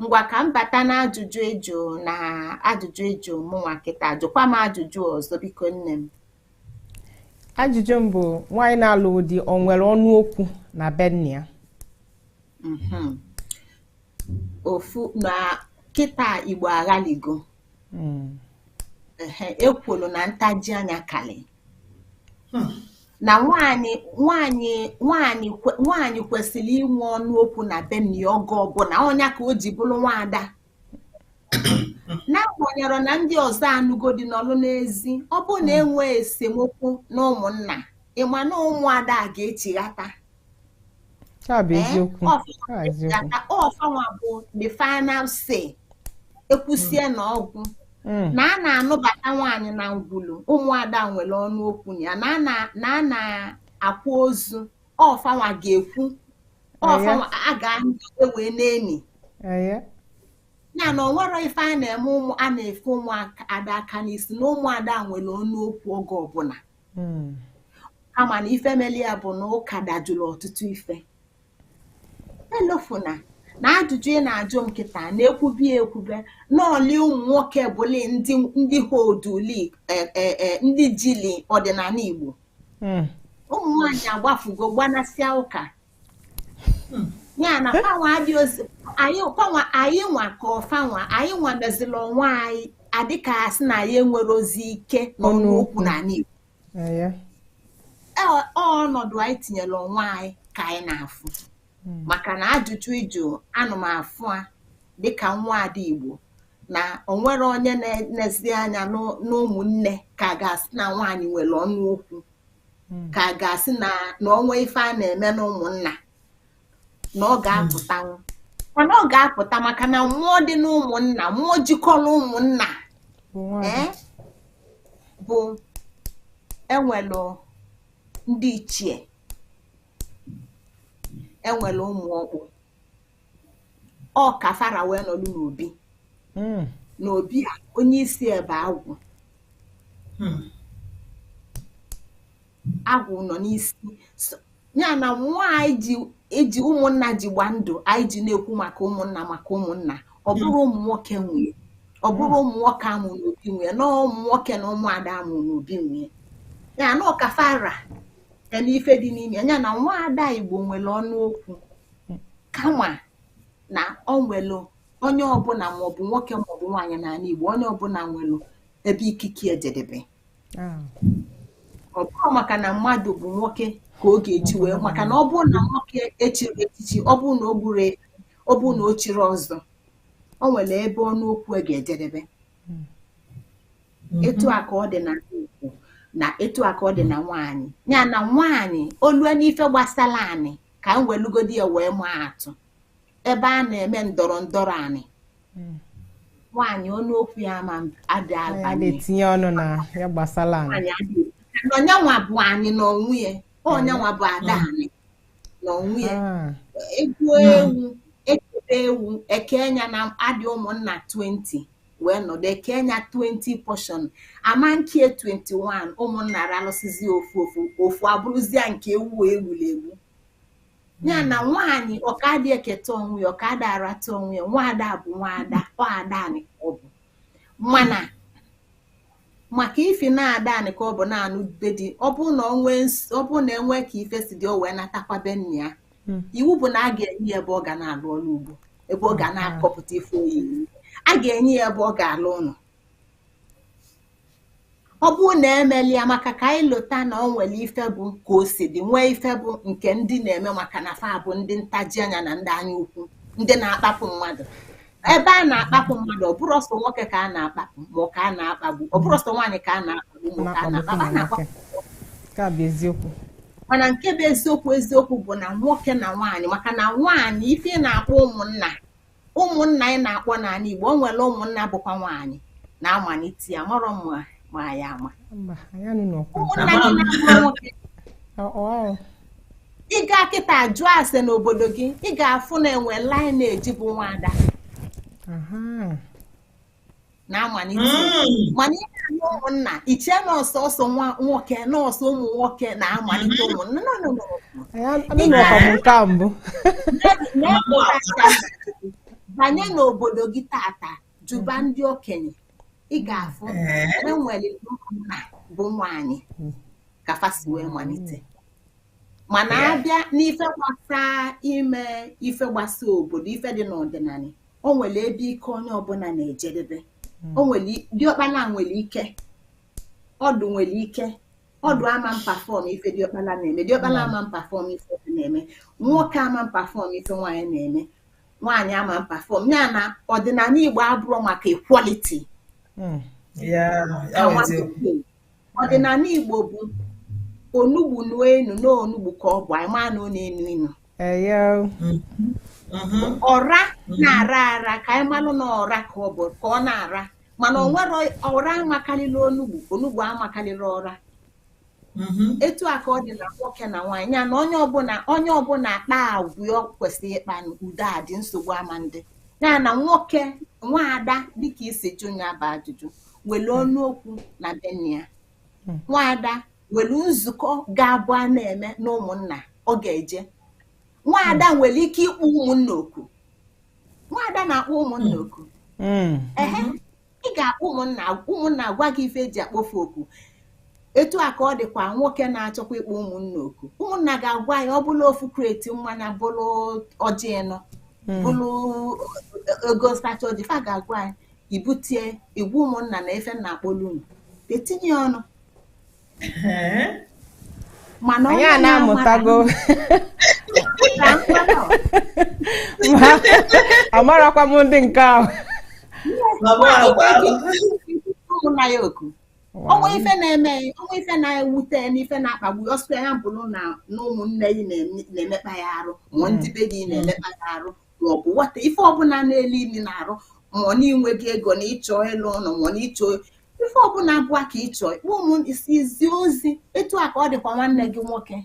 ngwa ka m bata na ajụjụ ị jụ na ajụjụ ị jụ mụnwa kịta jụkwa m ajụjụ ọzọ biko nne m ajụjụ m bụ nwaanyị na-alụ di ọ nwere ọnụ okwu na be nna ya mhm. ofu na kịta igbo aghaligo hmm. ekwulu na ntaji anya kali hmm. na nwaanyị kwesịrị inwe ọnụ okwu na be nna ya oge ọbụna ọ nya ka o ji bụrụ nwaada n'agbanyerọ na ndị ọzọ anụgo di nọlụ n'ezi ọ bụrụ na e nwee esemokwu na ụmụnna ị ma na ụmụada ga-echighata ọ fanwa bụ the final say e kwusie na ọ gwụ hmm. na a na-anụbata nwaanyị na ngwulu ụmụada nwere ọnụ okwu ya na a na-akwa ozu ọ fanwa ga-ekwu ọ fanwa ga-anọ e wee na-eni ya na o nwerọ ife a na-eme ụmụ a na-efe ụmụada aka n'isi na ụmụada nwere ọnụ okwu oge ọbụna hmm. kama na ife meli ya bụ na ụka dajụrụ ọtụtụ ife elofuna na ajụjụ ị na-ajụ m kịta na-ekwubi ekwube n'ọli ụmụ nwoke bụli ndị họdụlị e, e, e, ndị jili ọdịnanị Igbo hmm. ụmụ nwaanyị agbafugo gbanasịa ụka ya na fanwa adịrọzi anyị fanwa anyị nwa ka ọ fanwa anyị nwa meziri onwe anyị adịka a sị na anyị enwerọzi ike n'ọnụ okwu n'anị Igbo ọnọdụ anyị tinyere onwe anyị ka anyị na-afụ hmm. maka na ajụjụ ị jụanụ m afụ a dịka nwa ada Igbo na o nwerọ onye na-enezi anya n'ụmụnne ka a ga-asị na nwaanyị nwere ọnụ okwu hmm. ka a ga-asị na o nwee ife a na-eme n'ụmụnna na ọ ga-apụtanwu mana ọ ga-apụta maka na mmụọ dị n'ụmụnna mmụọ jikọrọ ụmụnna bụ e nwelụ ndị ichie e nwere ụmụ ọkpụ ọ ka fa ra wee nọlụ n'obi hmm. n'obi a onye isi ebe agwụ hmm. agwụ nọ n'isi ya na nwa anyị eji ụmụnna ji gba ndụ anyị ji na-ekwu maka ụmụnna maka ụmụnna ọ hmm. bụrọ ụmụ nwoke nwe nya ọ bụrọ ụmụ nwoke a mụ n'obi nwe nya na ụmụ nwoke na ụmụada a mụ n'obi nwe ya na ọ ka fa ra ya na ife dị n'ime ya na nwaada Igbo nwere ọnụ okwu kama na o nwere onye ọbụna maọbụ nwoke maọbụ nwaanyị n'anị Igbo onye ọbụna nwere ebe ikike e jedebe ah. ọ bụrọ maka na mmadụ bụ nwoke ka ọ ga-eji wee maka na ọ bụrụ na nwoke chiri echichi ọ bụrụ na o gburu ọ bụrụ na o chiri ọzọ o nwere ebe ọnụ okwu e ga-ejedebe etu a ka ọ dị na Igbo na etu a ka ọ dị na nwaanyị ya na nwaanyị olue n'ife gbasara anị ka m welugodi ya wee maa atụ ebe a na-eme ndọrọ ndọrọ anị nwaanyị ọnụ okwu ya ama adị ya abanye na-etinye ọnụ na ya gbasara anị nwaanyị adịghị na ọ nya nwa bụ anị n'onwe ya ọ nya nwa bụ ada anị na onwe ya hmm. egbuo hmm. ewu ekebe ewu eke nya na adị ụmụnna 20 wee nọdụ eke nya 20 portion ama nke 21 ụmụnna ralụsizi ofu ofu ofu abụrụzie nke ewu egbulu egbu ya na hmm. nwaanyị oke adị eketa onwe ya oke adị arata onwe ya nwaada bụ nwaada ọ ada anị ka ọ bụ mana maka ifi na ada anị ka ọ bụ na-anụ be di ọ bụrụ na ọ bụrụ na enwee ka ife si dị o wee natakwa be nna ya hmm. iwu bụ na a ga-enye ya ebe ọ ga na-alụ ọrụ ugbo ebe ọ ga hmm. na-akọpụta ife oyi a ga-enye ya ebe ọ ga-alụ ụlọ ọ bụrụ na emeli ya maka ka anyị lota na ọ nwere ife bụ ka o si dị nwee ife bụ nke ndị na-eme maka na fa bụ ndị ntaji anya na ndị anya ukwu ndị na-akpapụ mmadụ ebe a na-akpapụ mmadụ ọ bụrọ ọsọ nwoke ka a na-akpapụ ma ọ ka a na-akpagbu ọ bụrọ ọsọ nwaanyị ka a na-akpagbu ma ọ ka a na-akpagbu a na-akpapụ ka bụ eziokwu mana nke bụ eziokwu eziokwu bụ na nwoke na nwaanyị maka na nwaanyị ife ị na-akpọ ụmụnna ụmụnna ị na-akpọ n'anị Igbo o nwere ụmụnna bụkwa nwaanyị na-amalite ya marọ ma ya ama ụmụnna gị na-akpọ nwoke ị gaa kịta jụọ ase n'obodo gị ị ga-afụ na enwe lineage bụ nwa ada na-amalite hmm. mana ihe anyị ụmụnna iche na ọ sọsọ nwa nwoke na ọsọ ụmụ nwoke na-amalite hmm. ụmụnna banye n'obodo gị tata jụba hmm. ndị okenye ị ga-afụ enwere nna bụ nwaanyị ka fa si wee malite mana abịa n'ife gbasa ime ife gbasa obodo ife dị n'ọdịnanị o nwere ebe ike onye ọbụla na-ejedebe hmm. o nwere diọkpala nwere ike ọdụ nwere ike ọdụ ama perform ife diọkpala na-eme diọkpala hmm. ama perform ife na-eme nwoke ama perform ife nwaanyị na-eme nwaanyị ama perform ya na ọdịnanị Igbo abụrọ maka equality hmm. ọdịnanị Igbo bụ onugbu nuo inu na onugbu ka ọ bụ anyị maa na ọ na-enu inu Mm-hmm. ọra mm-hmm. na-ara ara ka anyị malụ na ọra ka ọ bụ ka ọ na-ara mana ọ mm. nwerọ ọra amakalịla onugbu onugbu amakalịla ọra mm-hmm. etu a ka ọ dị na nwoke na nwaanyị ya na onye ọbụla onye ọbụla kpaa agwa ọ kwesịrị ịkpa udo adị nsogbu ama adị ya na nwoke nwaada dịka i si jụ ya bụ ajụjụ nwere ọnụ okwu na be nna ya hmm. nwaada nwere nzukọ ga-abụ a na-eme na ụmụnna ọ ga-eje nwaada hmm. nwere ike ịkpọ ụmụnna oku nwaada na-akpọ ụmụnna hmm. oku ị ga-akpọ ụmụnna ụmụnna agwa gị ife e ji akpọ fa oku etu a ka ọ dịkwa nwoke na-achọkwa ịkpọ ụmụnna oku ụmụnna ga-agwa ya ọ bụlụ ofu kreti mmanya bụlụ ọjị ịnọ hmm. bụlụ ego nsacha ọjị fa ga-agwa ya i butie ị gwa ụmụnna na ife m na-akpọlụ unu etinye ọnụ mana onye a na-amụtago amarakwa m ndị nke ahụ ụmụnna ya oku o nwee ife na-eme o nwee ife na-ewute n'ife na-akpagbu ọ sịkwa ya bụrụ na ụmụnne gị na-emekpa gị arụ ma ndị be gị na-emekpa gị arụ maọbụ nwata ife ọbụla na-ele ili n'arụ ma ọ na i nweghị ego na ị chọ ịlụ ụnọ ma ọ na ị chọ ife ọbụla bụ ka ị chọ ịkpọ ụmụ isi izi ozi etu a ka ọ dịkwa nwanne gị nwoke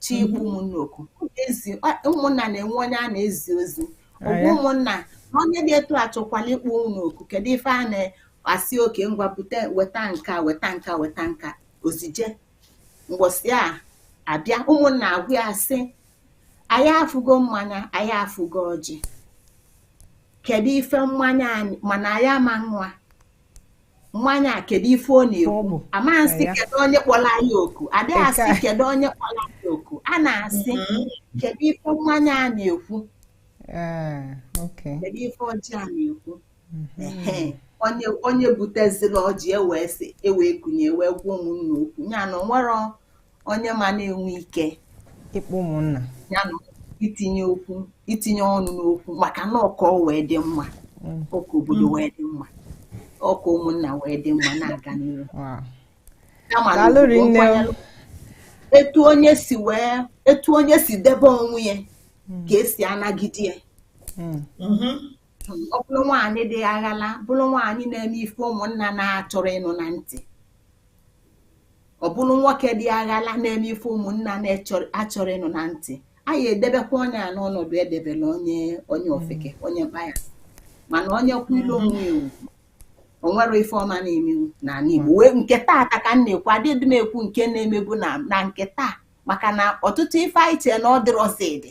chọ ịkpọ ụmụnna oku ezi ụmụnna na-enwe onye a na-ezi ozi ọ gwa ụmụnna na onye dị etu a chọkwalụ ịkpọ unu oku kedu ife a na-asị okay ngwa bute weta nka weta nka weta nka ozi eje mgbọsị a abịa ụmụnna agwa ya sị anyị afụgo mmanya anyị afụgo ọjị kedu ife mmanya anyị mana anyị ama aṅụ mmanya a kedu ife ọ na-ekwu a ma asị kedu onye kpọrọ anyị oku adịghị asị kedu onye kpọrọ anyị oku a na-asị mm-hmm. kedu ife mmanya a na-ekwu kedu ife ọjị a na-ekwu onye onye butezilu ọjị ewee sị ewee kunye ewee gwa ụmụnna okwu ya na o nwerọ onye ma na-enwe ike ịkpọ ụmụnna ya na itinye okwu itinye ọnụ n'okwu maka na ọ ka o wee dị mma mm. ọ ka obodo mm. wee dị mma ọ ka ụmụnna wee dị mma na-aga n'ihu etu onye si wee etu onye si debe onwe ya mm. ka e si anagide ya mm-hmm. ọ bụrụ nwaanyị dị aghala bụrụ nwaanyị na-eme ife ụmụnna na-achọrọ ịnụ na ntị ọ bụrụ nwoke dị aghala na-eme ife ụmụnna na-achọrọ ịnụ na ntị anyị edebekwa onye a n'ọnọdụ e debelu onye onye ofeke onye mkpaya mana onye kwu ilu onwe ewu onwere ife ọma na-eme n'ala Igbo wee nke taa ka ka m na-ekwu adịdị m ekwu nke na-emebu na nke taa maka na ọtụtụ ife anyị chee na ọ dịrọzi adị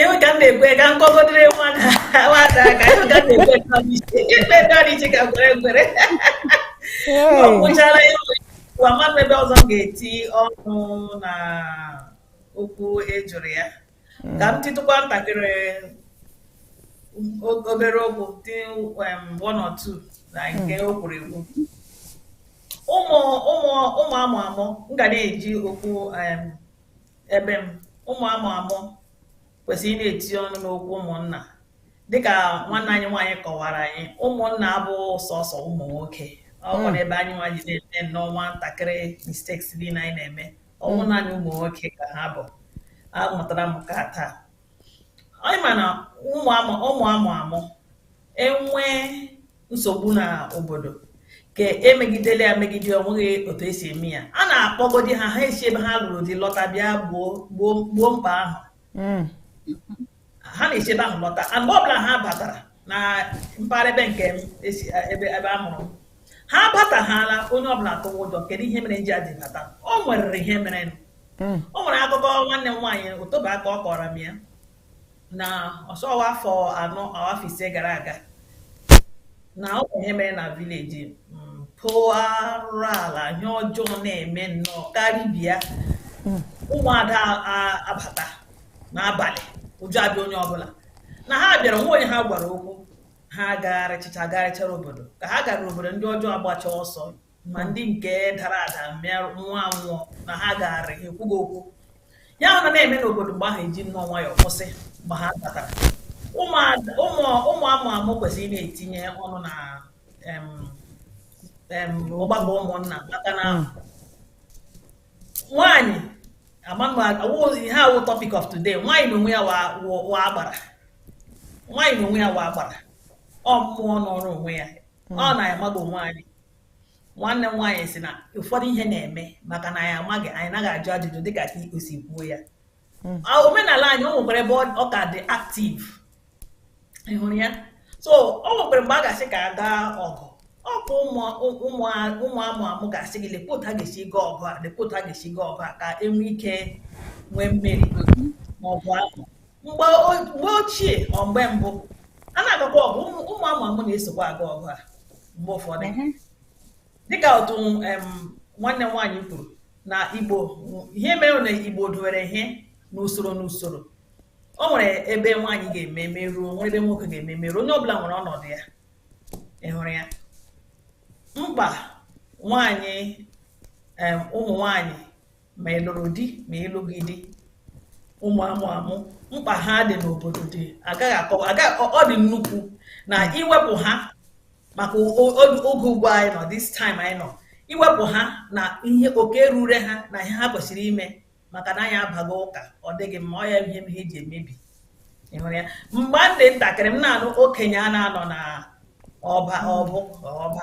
ịhụ ka m na-ekwe ka m kpọgodere nwa na nwata ka ịhụ ka m na-ekwe ka m isi ikpe ndị ọrụ iche ka gwere gwere ọ gwụchara ya ụwa mmadụ ebe ọzọ m ga-eti ọnụ na okwu ejụrụ ya ka m titụkwa ntakịrị o- obere okwu dị um, one or two na nke o kwuru ekwu ụmụ ụmụ ụmụ amụ amụ m ga na-eji okwu um, ebe m ụmụ amụ amụ kwesịrị ịna-etinye ọnụ n'okwu ụmụnna dịka nwanne anyị nwaanyị kọwara anyị ụmụnna abụ sọsọ ụmụ nwoke ọ wụ n'ebe anyị nwa ji na-eme nnọọ nwantakịrị mistakes dị na anyị na-eme ọ wụ naanị ụmụ nwoke ka ha bụ amụtara m nke a taa anyị ma na ụmụ amụ amụ enwee nsogbu na obodo ka emegidele ya megide ọ nweghị otu esi eme ya a na-akpọgodi ha ha esi ebe ha lụrụ di lọta bịa gboo mkpa ahụ hmm. ha na-esi ebe ahụ lọta a mgbe ọbụla ha batara na mpaghara ebe nke ebe a mụrụ ha batahala onye ọbụla atụwa ụjọ kedu ihe mere ndị a ji bata o nwerere ihe mere hmm. o nwere akụkọ nwanne m nwaanyị ụtụba aka ọ kọọrọ m ya na ọ sị ọ wụ afọ anọ afọ ise gara aga na ọ bụ ihe mere na village mpụ arụrụ ala ihe ọjọọ na-eme nnọọ karịbịa ụmụada abata n'abalị ụjọ abịa onye ọbụla na ha bịara enweghị onye ha gwara okwu ha gagharịchịcha gagharịchara obodo ka ha gara obodo ndị ọjọọ agbacha ọsọ ma ndị nke dara ada mịa nwụọ anwụ na ha gagharị ekwughị okwu ihe ahụ na na-eme n'obodo mgbe ahụ eji nnọọ nwayọọ kwụsị mgbe ha batara ụmụ amụ amụ kwesịrị ịna-etinye ọnụ na ọgbakọ ụmụnna maka na hmm. nwaanyị ihe a wụ topic of today nwaanyị na onwe ya wụ agbara nwaanyị na onwe ya wụ agbara ọ mmụọ nọọrọ onwe ya ọ hmm. na anyị amaghị o nwaanyị nwanne m nwaanyị sị na ụfọdụ ihe na-eme maka na anyị amaghị anyị anaghị ajụ ajụjụ dịka ka o si kwuo ya hmm. omenala anyị o nwekwara ebe ọ ka dị active ị hụrụ ya so o nwekwara mgbe a ga-asị ka a gaa ọgụ ọ bụ ụmụ amụ amụ ga-asị gị lekwa otu a ga-esi gaa ọgụ a lekwa otu a ga-esi gaa ọgụ a ka enwe ike nwee mmeri n'ọgụ ahụ mgbe ochie ọ mgbe mbụ a na-agakwa ọgụ ụmụ amụ amụ na-esokwa aga ọgụ a mgbe ụfọdụ mhm. dịka otu nwanne m nwaanyị kwuru na igbo ihe mere na igbo dowere ihe n'usoro n'usoro o nwere ebe nwaanyị ga-eme meruo o nwere ebe nwoke ga-eme meruo onye ọbụla nwere ọnọdụ ya ị hụrụ ya mkpa nwaanyị ụmụ nwaanyị ma ị lụrụ di ma ị lụghị di ụmụ amụ amụ mkpa ha dị n'obodo dị agaghị akọwa ọ dị nnukwu na iwepụ ha maka oge ugbu anyị nọ this time anyị nọ iwepụ ha na ihe oke rure ha na ihe ha kwesịrị ime maka na anyị abago ụka ọ dịghị mma ọ ya mere ihe eji emebi ịhụrụ ya mgbe m dị ntakịrị m na-anụ okenye a na-anọ na ọba ọbụ ọba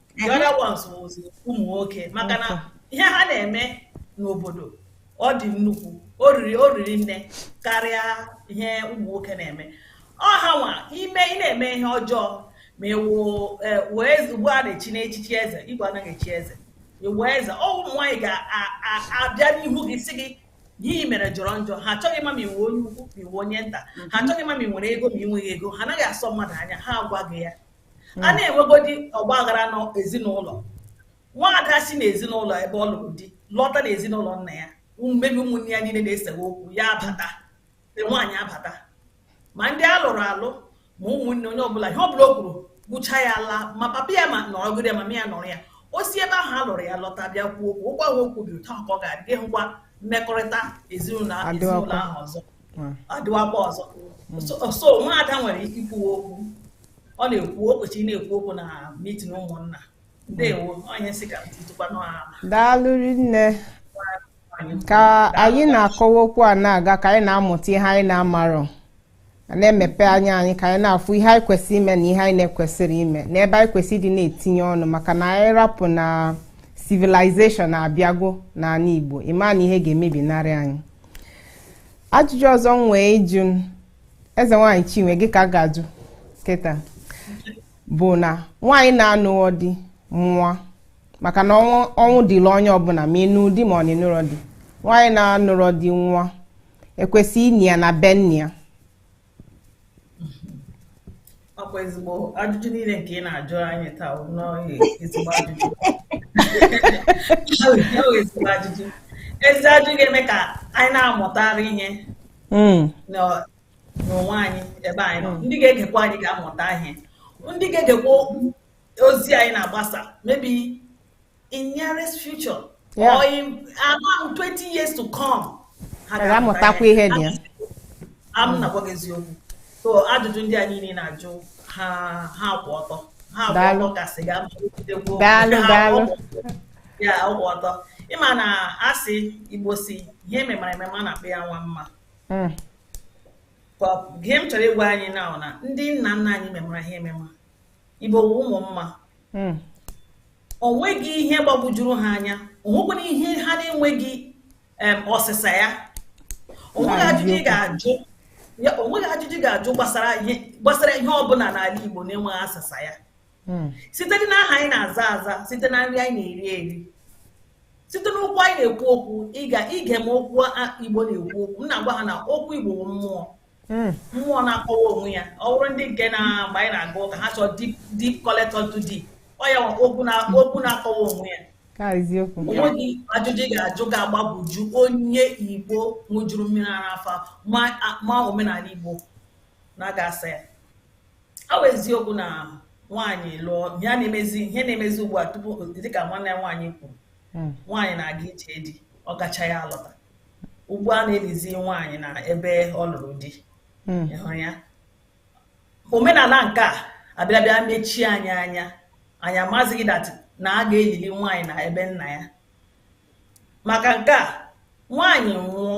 the mhm. other ones was ụmụ nwoke maka na ihe ha na-eme n'obodo ọ dị nnukwu oriri oriri nne karịa ihe ụmụ nwoke na-eme ọ ha nwa ma ị na-eme ihe ọjọọ ma ị wụ e, wee ugbu a na-echi echichi eze igwe anaghị echi eze ị wụ eze ọ ụmụ nwaanyị ga-abịa n'ihu gị sị gị ihe i mere jọrọ njọ ha achọghị ịma ma ị wụ onye ukwu ma ị wụ onye nta ha mhm. achọghị ịma ma ị nwere ego ma ị nweghị ego ha anaghị asọ mmadụ anya ha agwa gị ya a hmm. na-enwegodi ọgba aghara n'ezinụlọ nwaada si n'ezinụlọ ebe ọ lụrụ di lọta n'ezinụlọ nna ya maybe ụmụnne ya niile na-esewe okwu ya abata nwaanyị abata ma ndị a lụrụ alụ ma ụmụnne onye ọbụla ihe ọbụla o kwuru bụcha ya ala ma papa ya nọrọgodi ya ma mama ya nọrọ ya o si ebe ahụ a lụrụ ya lọta bịa kwuo okwu okwu ahụ o kwubiri taa ka ọ ga-adị hụkwa mmekọrịta ezinụlọ ahụ ọzọ ọ dịwakwa ọzọ so nwaada nwere ikwu okwu ọ na-ekwu o kwesịrị na-ekwu okwu na mitin ụmụnna ndewo onye nsị ka ntụtụkwa n'ala daalụ nne ka anyị na-akọwa okwu a na-aga ka anyị na-amụta ihe anyị na-amarọ a na-emepe anya anyị ka anyị na-afụ ihe anyị kwesịrị ime na ihe anyị na-ekwesịrọ ime na ebe anyị kwesịrị ịdị na-etinye ọnụ maka na anyị rapụ na civilization na-abịago n'anị Igbo ịma na ihe ga-emebinarị anyị ajụjụ ọzọ m nwee ịjụ m, eze nwaanyị chinwe gị ka m ga-ajụ kịta bụ na nwaanyị na-anụghọ di nwụa maka na ọnwụ ọnwụ dịlị onye ọbụna ma ị nụ di ma ọ na ị nụrọ di nwaanyị na-anụrọ di nwụa e kwesị ini ya na be nne ya ọkwa ezigbo ajụjụ niile nke ị na-ajụ anyị taa n'ọhị ezigbo ajụjụ ezigbo ajụjụ ezi ajụjụ ga-eme ka anyị na-amụtara ihe hmm. n'onwe anyị ebe anyị nọ hmm. ndị ga-egekwa anyị ga-amụta ihe ndị ga-egekwa ozi anyị na-agbasa maybe in nearest future yeah. or in around 20 years to come ha ga-amụtakwa ihe na ya am na-agwa gị eziokwu so ajụjụ ndị a niile ị na-ajụ ha ha kwụ ọtọ ha kwụ ọtọ gasị ga daalụ daalụ ya kwụ ọtọ ịma na asị Igbo sị ihe e memara emema na-akpa ya nwa mma hmm. ihe m chọrọ ịgwa anyị na na ndị nna nna anyị memara ihe emema Igbo wụ ụmụ mma hmm. o nweghị ihe gbagwojuru ha anya o nwekwara ihe ha na-enweghị ọsịsa ya o nweghị ajụjụ ị ga-ajụ o nweghị ajụjụ ị ga-ajụ gbasara ihe ọbụla n'ala Igbo na-enweghị asịsa ya hmm. site na aha anyị na-aza aza site na nri anyị na-eri eri site n'okwu anyị na-ekwu okwu ịga ige m okwu Igbo na-ekwu okwu m na-agwa ha na okwu Igbo mmụọ hmm. mmụọ na-akọwa onwe ya ọ bụrụ ndị nke na mgbe anyị na-aga ụka ha chọọ deep calleth unto deep ọ ya okwu na-akọwa onwe ya o nweghị ajụjụ ị ga-ajụ ga-agbagwoju onye igbo ṅụjuru mmiri ara afọ ma omenala igbo na ga-asa ya ọ bụ eziokwu na nwaanyị lụọ ya na-emezi ihe a na-emezi ugbu a tupu dịka nwanne ya nwaanyị kwuru hmm. nwaanyị na-aga ije di ọ gacha ya alọta ugbu a a na-elizi nwaanyị na ebe ọ lụrụ di hmm. ị hụrụ ya omenala nke a bịara abịa mechie anyị anya anyị amazighị that na a ga-elili nwaanyị na ebe nna ya maka nke a nwaanyị nwụọ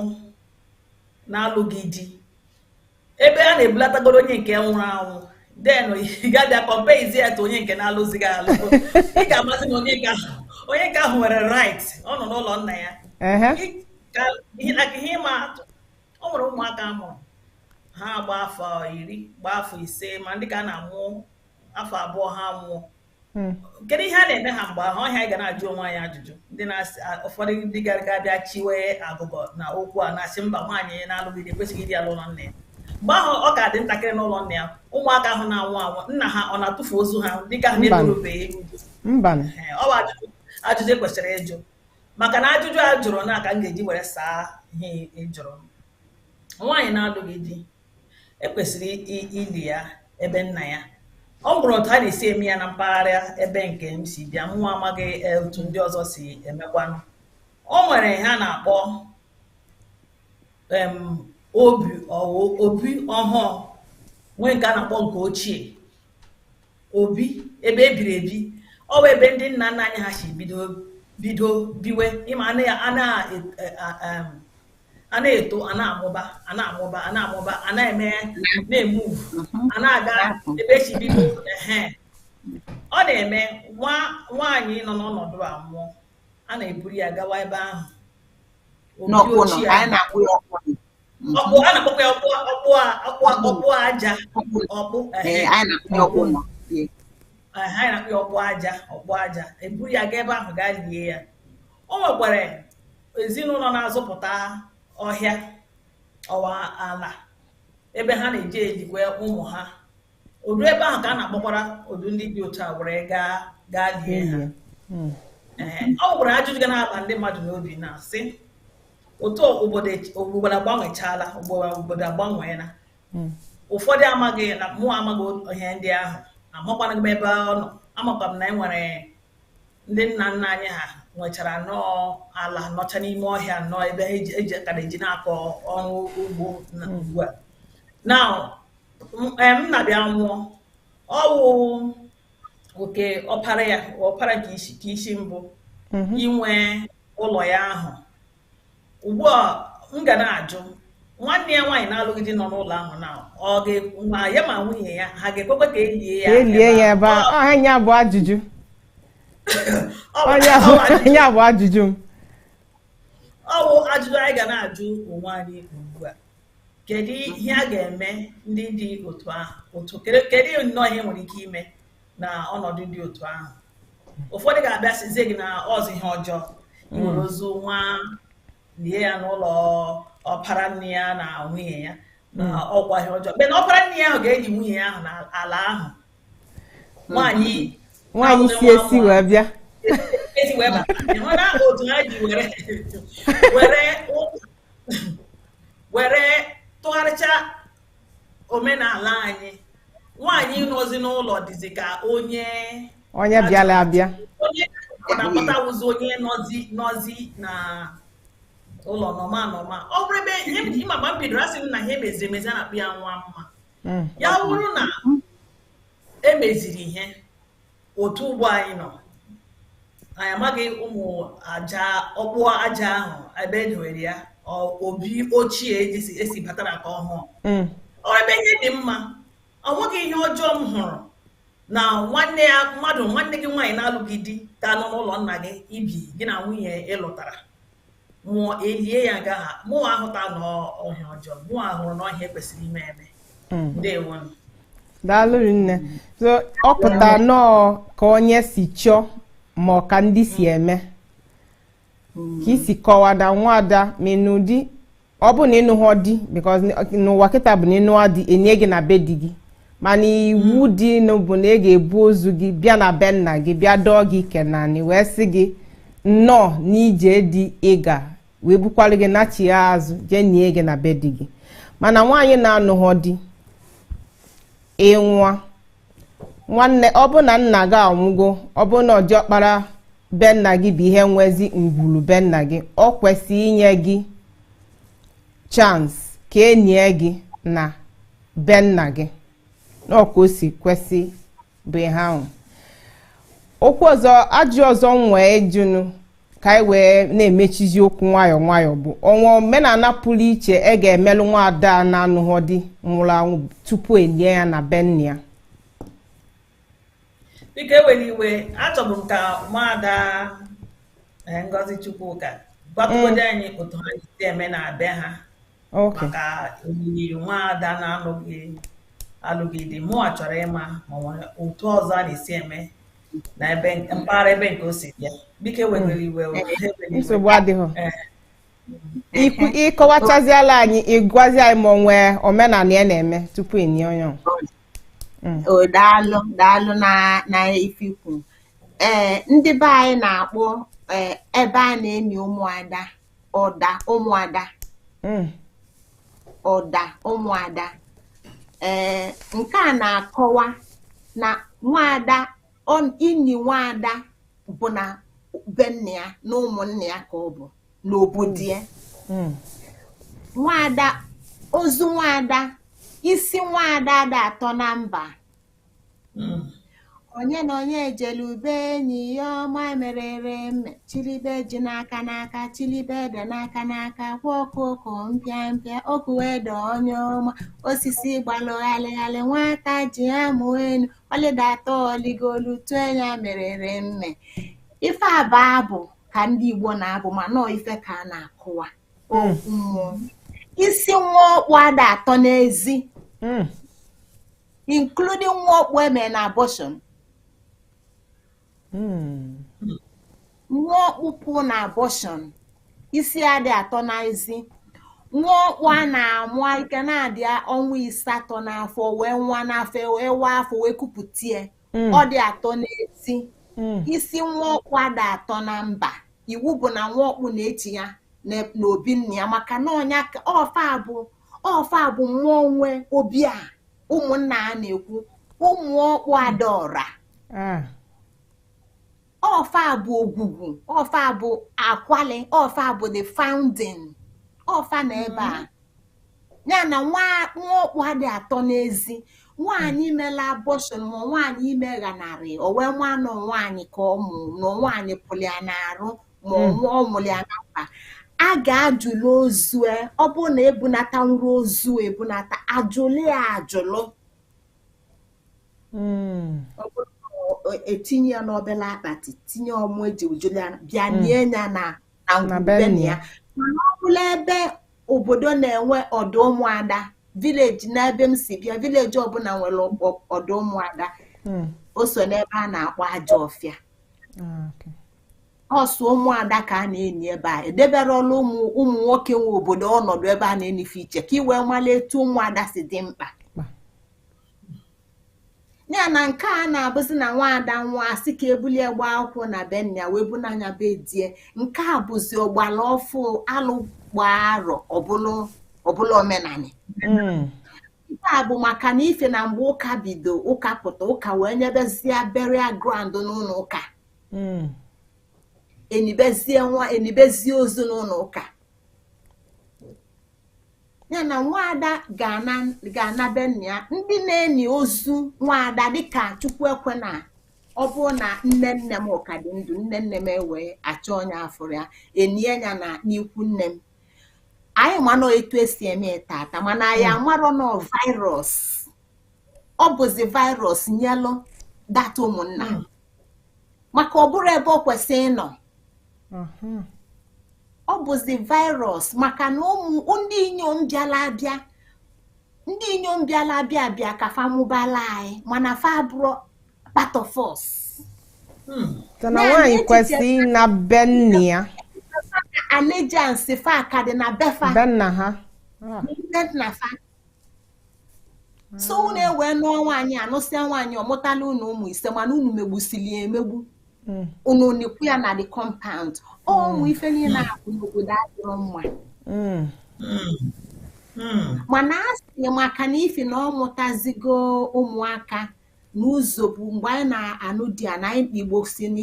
na-alụghị di ebe a na-ebulatagoro onye nke nwụrụ anwụ then ị ga-abịa comparezie ya to onye nke na-alụzighị alụ ị ga-amazi na onye nke ahụ onye nke ahụ nwere right ọ nọ n'ụlọ nna ya ihe ịma atụ ọ nwere ụmụaka a mụrụ ha agba afọ iri gbaa afọ ise ma ndị ka a na-amụ afọ abụọ ha nwụọ hmm. kedu ihe a na-eme ha mgbe ahụ ọ ihe anyị ga na-ajụ onwe anyị ajụjụ ndị na-asị ụfọdụ ndị gara abịa chiwe agụgọ na okwu a na-asị mba nwaanyị na-alụghị di ekwesịghị ili ya n'ụlọ nna ya mgbe ahụ ọ ka dị ntakịrị n'ụlọ nna ya ụmụaka ahụ na-anwụ anwụ nna ha ọ na-atụfu ozu ha dịka ha na-eburubeghị ọ bụ ajụjụ e kwesịrị ịjụ maka na ajụjụ a jụrụ ka m ga-eji were saa ihe ị jụrụ nwaanyị na-alụghị di e kwesịrị ili ya ebe nna ya ọ bụrụ otu a na-esi eme ya na mpaghara ebe nke m si bịa mụ amaghị e, otu ndị ọzọ si emekwanụ o nwere ihe a na-akpọ obi obi ọhụụ nwee nke a na-akpọ nke ochie obi ebe ebiri ebi ọ bụ ebe ndị nna nna anyị ha si bido bido biwe ị ma a na-etinye a na-eto a na-amụba a na-amụba a na-amụba a na-eme na-emove a na-aga ebe e si bido ehe ọ na-eme nwa nwaanyị nọ n'ọnọdụ a nwụọ a na-eburu ya gawa ebe ahụ obi n'ọkpụnọ ochie anyị na-akpọ ya ọkpụnọ ọkpụ a na-akpọkwa ya ọkpụ ọkpụ a- ọkpụ a- ọkpụ aja ọkpụ ee ehe anyị na-akpọ ya ọkpụnọ Ee. aha anyị na-akpọ ya ọkpụ aja ọkpụ aja eburu ya gaa ebe ahụ gaa lie ya o nwekwara ezinụlọ na-azụpụta ọhịa ọwa ala ebe ha na-eji ejikwa ụmụ ha ozu ebe ahụ ka a na-akpọkwara ozu ndị dị otu a were gaa gaa lie ha hmm. ọ wụrụ na ajụjụ ga na-aba ndị mmadụ n'obi na-asị otu obodo agbanwechaala obodo agbanweela hmm. ụfọdụ amaghị na mụ amaghị ihe ndị ahụ amakwana m ebe ọ nọ amakwa m na e nwere ndị nna nna anyị ha nwechara nnọọ ala nọcha n'ime ọhịa nnọọ ebe ha eji- eji akara eji na-akọ ọrụ ugbo na ugbu a nna m na-abịa nwụọ ọ wụ oke ọpara ya ọpara nke isi mbụ inwe ụlọ ya ahụ ugbu a m ga na-ajụ nwanne ya nwaanyị na-alụghị di nọ n'ụlọ ahụ na ọ ga-ekwu ma ya ma nwunye ya ha ga-ekwekwe ka e lie ya e lie ya ebe a ọha nya bụ ajụjụ onye bụ ajụjụ m ọ bụ ajụjụ anyị ga na-ajụ onwe anyị ugbu a kedu ihe a ga-eme ndị dị otu ahụ otu kedu nnọọ ihe nwere ike ime na ọnọdụ dị otu ahụ ụfọdụ ga-abịa sizie gị na ọ wụzi ihe ọjọọ iwere hmm. ozu nwa lie ya n'ụlọ ọpara nne ya na nwunye ya na hmm. ọ wụ ihe ọjọọ mgbe na ọpara nne ya ahụ ga-eli nwunye ya ahụ n'ala ahụ hmm. nwaanyị nwaanyị si esi wee bịa esi wee bata ị hụna otu ha ji were were were tụgharịcha omenala anyị nwaanyị nọzi n'ụlọ dịzi ka onye onye bịala abịa onye na-akpọta wụzi onye nọzi nọzi na ụlọ nọma nọma ọ bụrụ ebe ị ma mgbe m bidoro asị m na ihe e meziri emezi a na-akpọ ya nwa mma ya wụrụ na e meziri ihe otu ugbu a anyị nọ anyị amaghị ụmụ aja ọkpụ aja ahụ ebe e dowere ya obi ochie esi e batara ka ọhụụ mm. ọ wụ ebe ihe dị mma o nweghị ihe ọjọọ m hụrụ na nwanne mmadụ nwanne gị nwaanyị na-alụghị di ka nọ n'ụlọ nna gị i bi gị na nwunye ị lụtara nwụọ e lie ya nga ahụ mụ ahụtaghị na ọ ihe ọjọọ mụ ahụrụ na ọ ihe e kwesịrị ime eme mm. ndewo daalụ rinne ọ pụta nnọọ ka onye si chọọ ma ọ ka ndị si mm. eme ka i si kọwada nwada menụdị ọ bụ na ị nụghọ di because n'ụwa kịta bụ na ị nụọ di e nie gị na be di gị mana iwu hmm. dị bụ na a ga-ebu ozu gị bịa na be nna gị bịa dọọ gị ike n'anị wee sị gị nnọọ n'ije di ị ga wee bukwara gị nachia azụ jee nie gị na be di gị mana nwaanyị na-anụghọ di ịnwa nwanne ọ bụ na nna gị anwụgo ọ bụ na diọkpara be nna gị bụ ihe nwezi ngwuru be nna gị ọ kwesịrị inye gị chance ka e nie gị na be nna gị na ọ ka o si kwesị bụ ihe ahụ okwu ọzọ ajụ ọzọ m wee jụnụ ka anyị wee na-emechizi okwu nwayọọ nwayọọ bụ o nwee omenala pụrụ iche e ga-emelụ nwaada na-anụghọ di nwụrụ anwụ tupu e lie ya na be nna ya biko ewere iwe achọbụ m ka nwaada eh, Ngozi Chukwuka gwatụgodị mm. anyị otu ha si eme na be ha maka olili nwaada na-alụghị alụghị di mụwa chọrọ ịma ma e nwere otu ọzọ a na-esi eme na ebe mpaghara ebe nke o si bịa biko ewegoro iwe o, ha ewere iwe. nsogbu adịghị Eh, ikwu ịkọwachaziela anyị ịgwazi anyị ma o nwee omenala a na-eme tupu e nie onye ọ. Mm. o daalụ daalụ na na ife i kwu ee ndị be anyị na-akpọ ee, ebe a na-eni ụmụada ọda ụmụada mm. ọda ụmụada ee nke a na-akọwa na nwaada ini nwaada bụ na be nne ya na ụmụnne ya ka ọ bụ n'obodo ya mm. nwaada ozu nwaada isi nwaada ada atọ na mba hmm. onye na onye ejelu be enyi ya ọma merere mme chilibe ji n'aka n'aka chilibe ede n'aka n'aka kwa okoko mpịa mpịa okuwe ede onye ọma osisi gbalụghalịghalị nwata ji amụ enu ọ lịdata o ligolu tụọ anya merere mme ife a bụ abụ ka ndị Igbo na-abụ ma nọọ ife ka a na-akọwa hmm. mmụọ isi nwa ọkpụ ada atọ n'ezi hmm. including nwa ọkpụ e me na abortion hmm. nwa ọkpụ pụ na abortion isi adị atọ na ezi nwa ọkpụ a na-amụ ike na-adị ọnwa ịsatọ n'afọ wee nwụa n'afọ wee wa afọ wee kupụta ya hmm. ọ dị atọ n'ezi hmm. isi nwa ọkpụ ada atọ na mba iwu bụ na nwa ọkpụ na-eji ya n'obi nna ya maka na ọ nya ọ fa bụ ọ fa bụ mmụọ nwe obi a ụmụnna a na-ekwu ụmụ ọkpụ adaọra Ah, ọ fa bụ ogwugwu ọ fa bụ akwali ọ fa bụ the founding ọ fa na ebe a ya na nwa nwa ọkpụ adị atọ n'ezi nwaanyị imela abortion ma nwaanyị ime ghanarị o wee nwa na ọ nwaanyị ka ọ mụ na nwaanyị pụrụ ya n'arụ ma ọ nwụọ ọ nwụrụ ya na mba a ga-ajụlụ ozu e, ọ bụrụ na ebunatanwurọ ozu ebunata ajụlụ ya ajụlụ ọ bụrụ na ọ- etinye ya n'obere akpati tinye ọmụ eji ajụlụ ya bịa nie ya na na Na ngwulu be na nna ya ya. mana ọ bụlụ ebe obodo na-enwe ọdụ ụmụada vileji n'ebe m si bịa vileji ọbụla nwere ọgbọ- ọdụ ụmụada o so n'ebe a na-akpọ ajọ ọfịa Ah, okay. ọsụ ụmụada ka a na-eni ebe a edebere ọrụ ụmụ ụmụ nwoke nwe obodo ọnọdụ ebe a na-eni fa iche ka ị wee mara etu ụmụada si dị mkpa ya na nke a na-abụzi na nwaada nwa asị ka ebulie gba akwụkwọ na be nna wee bunaa nya be di e nke a bụzi ọgbara ọfụụ alụ gbaa arọ ọ bụlụ omenanị hmm. nke a bụ maka n'ifi na mgbe ụka bido ụka pụta ụka wee nyebezie burial ground n'ụnọ ụka hmm. enibezie nwa enibezie ozu n'ụnọ ụka ya na nwaada ga-ana be nna ya ndị na-eni ozu nwaada dịka chukwu ekwena ọ bụrụ na nne nne m ka dị ndụ nne nne m ewee achọ onye afụrụ ya enie ya na n'ikwu nne m anyị ma na ọ etu esi eme tata mana anyị hmm. amarọ na ọ virus ọ bụzi virus nyelụ data ụmụnna hmm. maka ọ bụrọ ebe o kwesị ịnọ hmm. ọ bụzi virus maka na ụmụ ndị inyom bịala abịa ndị inyom bịala abịa abịa ka fa mụbala anyị mana fa abụrọ part of us hmm. na nwaanyị kwesịrị ịna be nna ya allegiance fa ka dị na befa be nna ha nne nna fa so hmm. unu ewee nụọ nwaanyị anụsịa nwaanyị ọmụtala unu ụmụ ise mana unu megbusili ya emegbu hmm. unu nikwu ya na the compound unu hmm. ife niile na-akụ n'obodo anyị nwa mana a sị maka na ifi na ọ mụtazigo ụmụaka n'ụzọ bụ mgbe anyị na-anụ di ya na ndị igbo sị na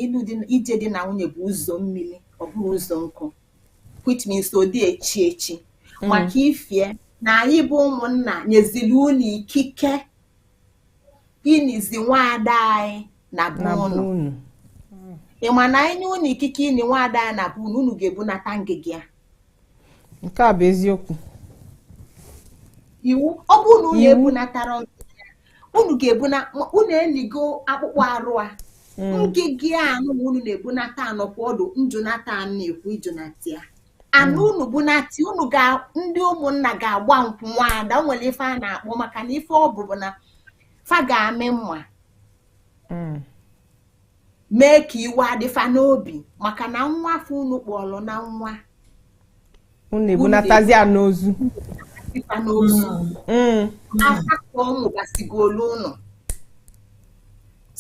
ije di na nwunye bụ ụzọ mmiri ọ bụrọ ụzọ nkụ which means ọ dị echi echi mm. maka ifi na anyị bụ ụmụnna nyeziri unu ikike inizi nwaada anyị na be unu ị ma na anyị nye unu ikike ini nwaada anyị na be unu unu ga-ebunata ngịga ya nke a bụ eziokwu iwu ọ bụrụ na unu ebunatara unu ga-ebu na unu eligo akpụkpọ arụ a mm. ngịga anụ unu na-ebunata nọkwa ọdụ njụnata a na-ekwu ịjụnata ya anụ mm. unu bunata unu ga ndị ụmụnna ga-agba nkwụ nwaada nwere ife a na-akpọ maka na ife ọ bụ bụ na fa ga-amị mma mm. mee ka iwe adị fa n'obi maka na nwa fa unu kpọrọ na nwa unu ebunatazi ya n'ozu ifa n'ozu mm. asatọ ụmụ gasigolu ụnọ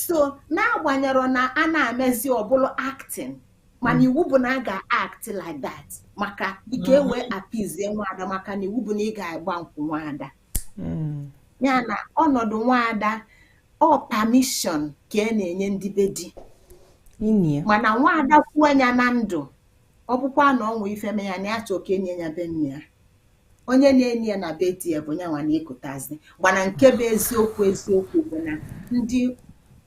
so n'agbanyerọ na a na-amezi ọ bụrụ acting mana iwu bụ na a ga-act like that maka ike mm. wee apizie nwaada maka na iwu bụ na ị ga-agba nkwụ nwaada hmm. ya na ọnọdụ nwaada ọ permission ka a na-enye ndị be di mana nwaada kwuo ya na ndụ ọ bụkwa na o nwee ife mee ya na ya chọọ ka e nie ya be nne ya onye na-eni ya na be di ya bụ nyanwa na ekutazi gbana nke bụ eziokwu eziokwu bụ na ndị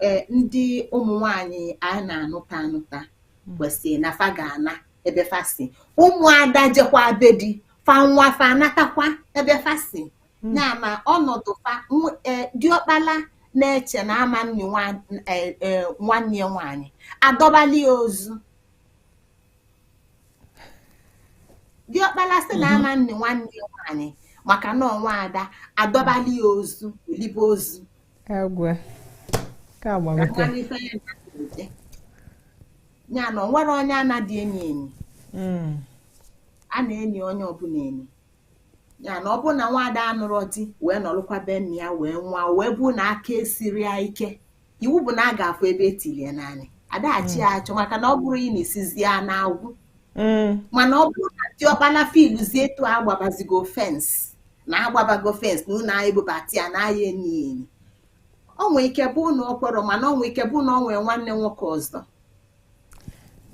e, ndị ụmụ nwanyị a na-anụta anụta hmm. kwesịrị na fa ga-ana ebe fa si ụmụada jekwa be di fa nwụa fa anatakwa ebe fa si hmm. na ma ọnọdụ fa e, diọkpala na-eche na ama eni e, e, nwanne ya nwaanyị adọbali ya ozu diọkpala sị na ama eni nwanne ya nwaanyị maka na ọ nwaada adọbali ya ozu o libe ozu ya na o nwerọ onye anadị eni eni mm. a na-eni onye ọbụla eni ya na ọ bụrụ na nwaada anụrọ di wee nọrọkwa be nna ya wee nwụa wee bụ na aka esirọ ya ike iwu bụ na a ga-afụ ebe e tinye ya n'anị ada achọ ya achọ maka na ọ bụrụ ị na-esizi ya n'agụ mm. mana ọ bụrụ na diọkpala filuzie etu agbabazigo fence na agbabago fence na ụnọ anyị bubata ya na aya eni eni o nwee ike bụ na o kwerọ mana o nwee ike bụ na o nwee nwanne nwoke ọzọ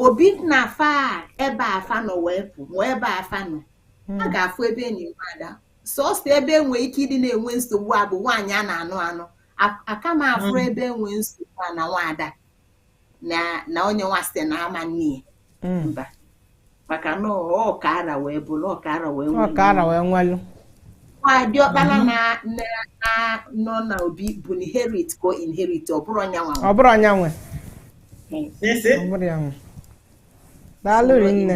obi na afa ebe afa nọ wee pụ mụọ ebe afa nọ hmm. a ga-afụ ebe eni nwaada sọsọ ebe enwe ike ịdị na-enwe nsogbu a bụ nwaanyị a na-anụ anụ aka m afụrọ hmm. ebe enwe nsogbu a na nwaada na na onye nwa sị na ama eni ya Mm. mba maka na ọ ka ara wee bụrụ ọ ka ara wee ọ ka ara wee nwelu nwa diọkpala na na- na- nọ na obi bụ inherit ka o inherit ọ bụrọ nya nwa ọ bụrọ nya nwe Isi? ọ bụrọ ya nwe daalụ rinne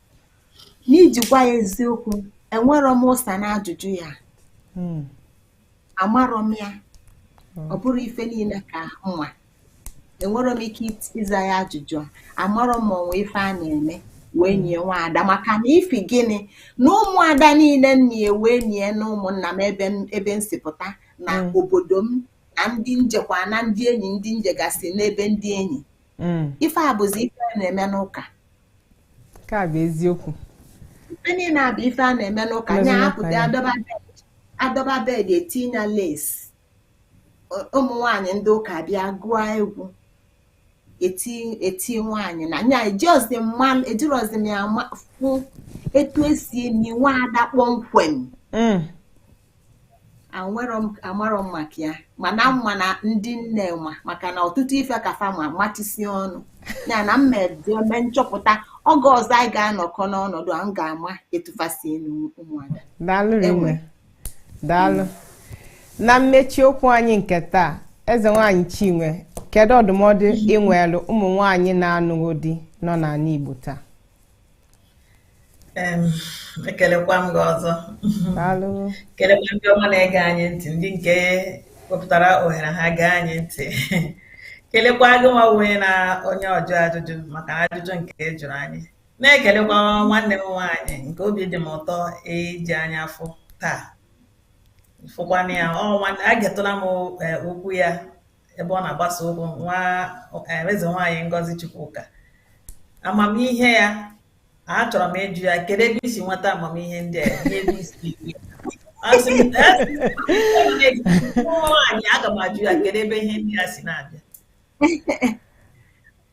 n'iji gwa ya eziokwu enwerọ m ụsa na ajụjụ ya hmm. amarọ m ya hmm. ọ bụrọ ife niile ka m ma enwerọ m ike ịza ya ajụjụ amarọ m ma o nwe ife a na-eme wee nie nwaada maka na ifi gịnị na ụmụada niile m ma e wee nie na ụmụnna m ebe m si pụta na hmm. obodo m na ndị m jekwa na ndị enyi ndị m jegasị n'ebe ndị enyi ife a bụzi ife a na-eme n'ụka ka bụ eziokwu ife niile a bụ ife a na-eme n'ụka Mezi nya n'ụka, apụta ya. adọba bed adọba bed etinye lace ụmụ nwaanyị ndị ụka bịa gụọ egwu eti eti nwaanyị na nya ejiọzi mma ejirozi m ya ma- fụ etu e si eni nwa ada kpọmkwem Mm. amarọ m maka ya mana m ma na ndị nne ma maka na ọtụtụ ife ka fa ma matisi ọnụ ya na m ma eme nchọpụta oge ọzọ anyị ga-anọkọ n'ọnọdụ a m ga-ama etu fa si eli ụmụada daalụ rinne daalụ na mmechi okwu anyị nke taa eze nwanyị chinwe kedu ọdụmọdụ i nwelu ụmụ nwanyị na-anụ di nọ n'ana igbo taa ekelekwa m gị ọzọ kelekwa ndị ọma na-ege anyị ntị ndị nke wepụtara ohere ha gee anyị ntị kelekwa gị nwa onye na onye ọjụ ajụjụ maka ajụjụ nke ị jụrụ anyị na-ekelekwa nwanne m nwaanyị nke obi dị m ụtọ iji anya afọ taa fụkwana ya ọ nwanne egetụla m e, okwu ya ebe ọ na-agbasa okwu nwa eh, eze nwaanyị Ngozi Chukwuka amamihe ya achọrọ m ịjụ ya kedu ebe i si nweta amamihe ndị a n'ebe i si asị m nwaanyị aga m ajụ ya kedu ebe ihe ndị a si na-abịa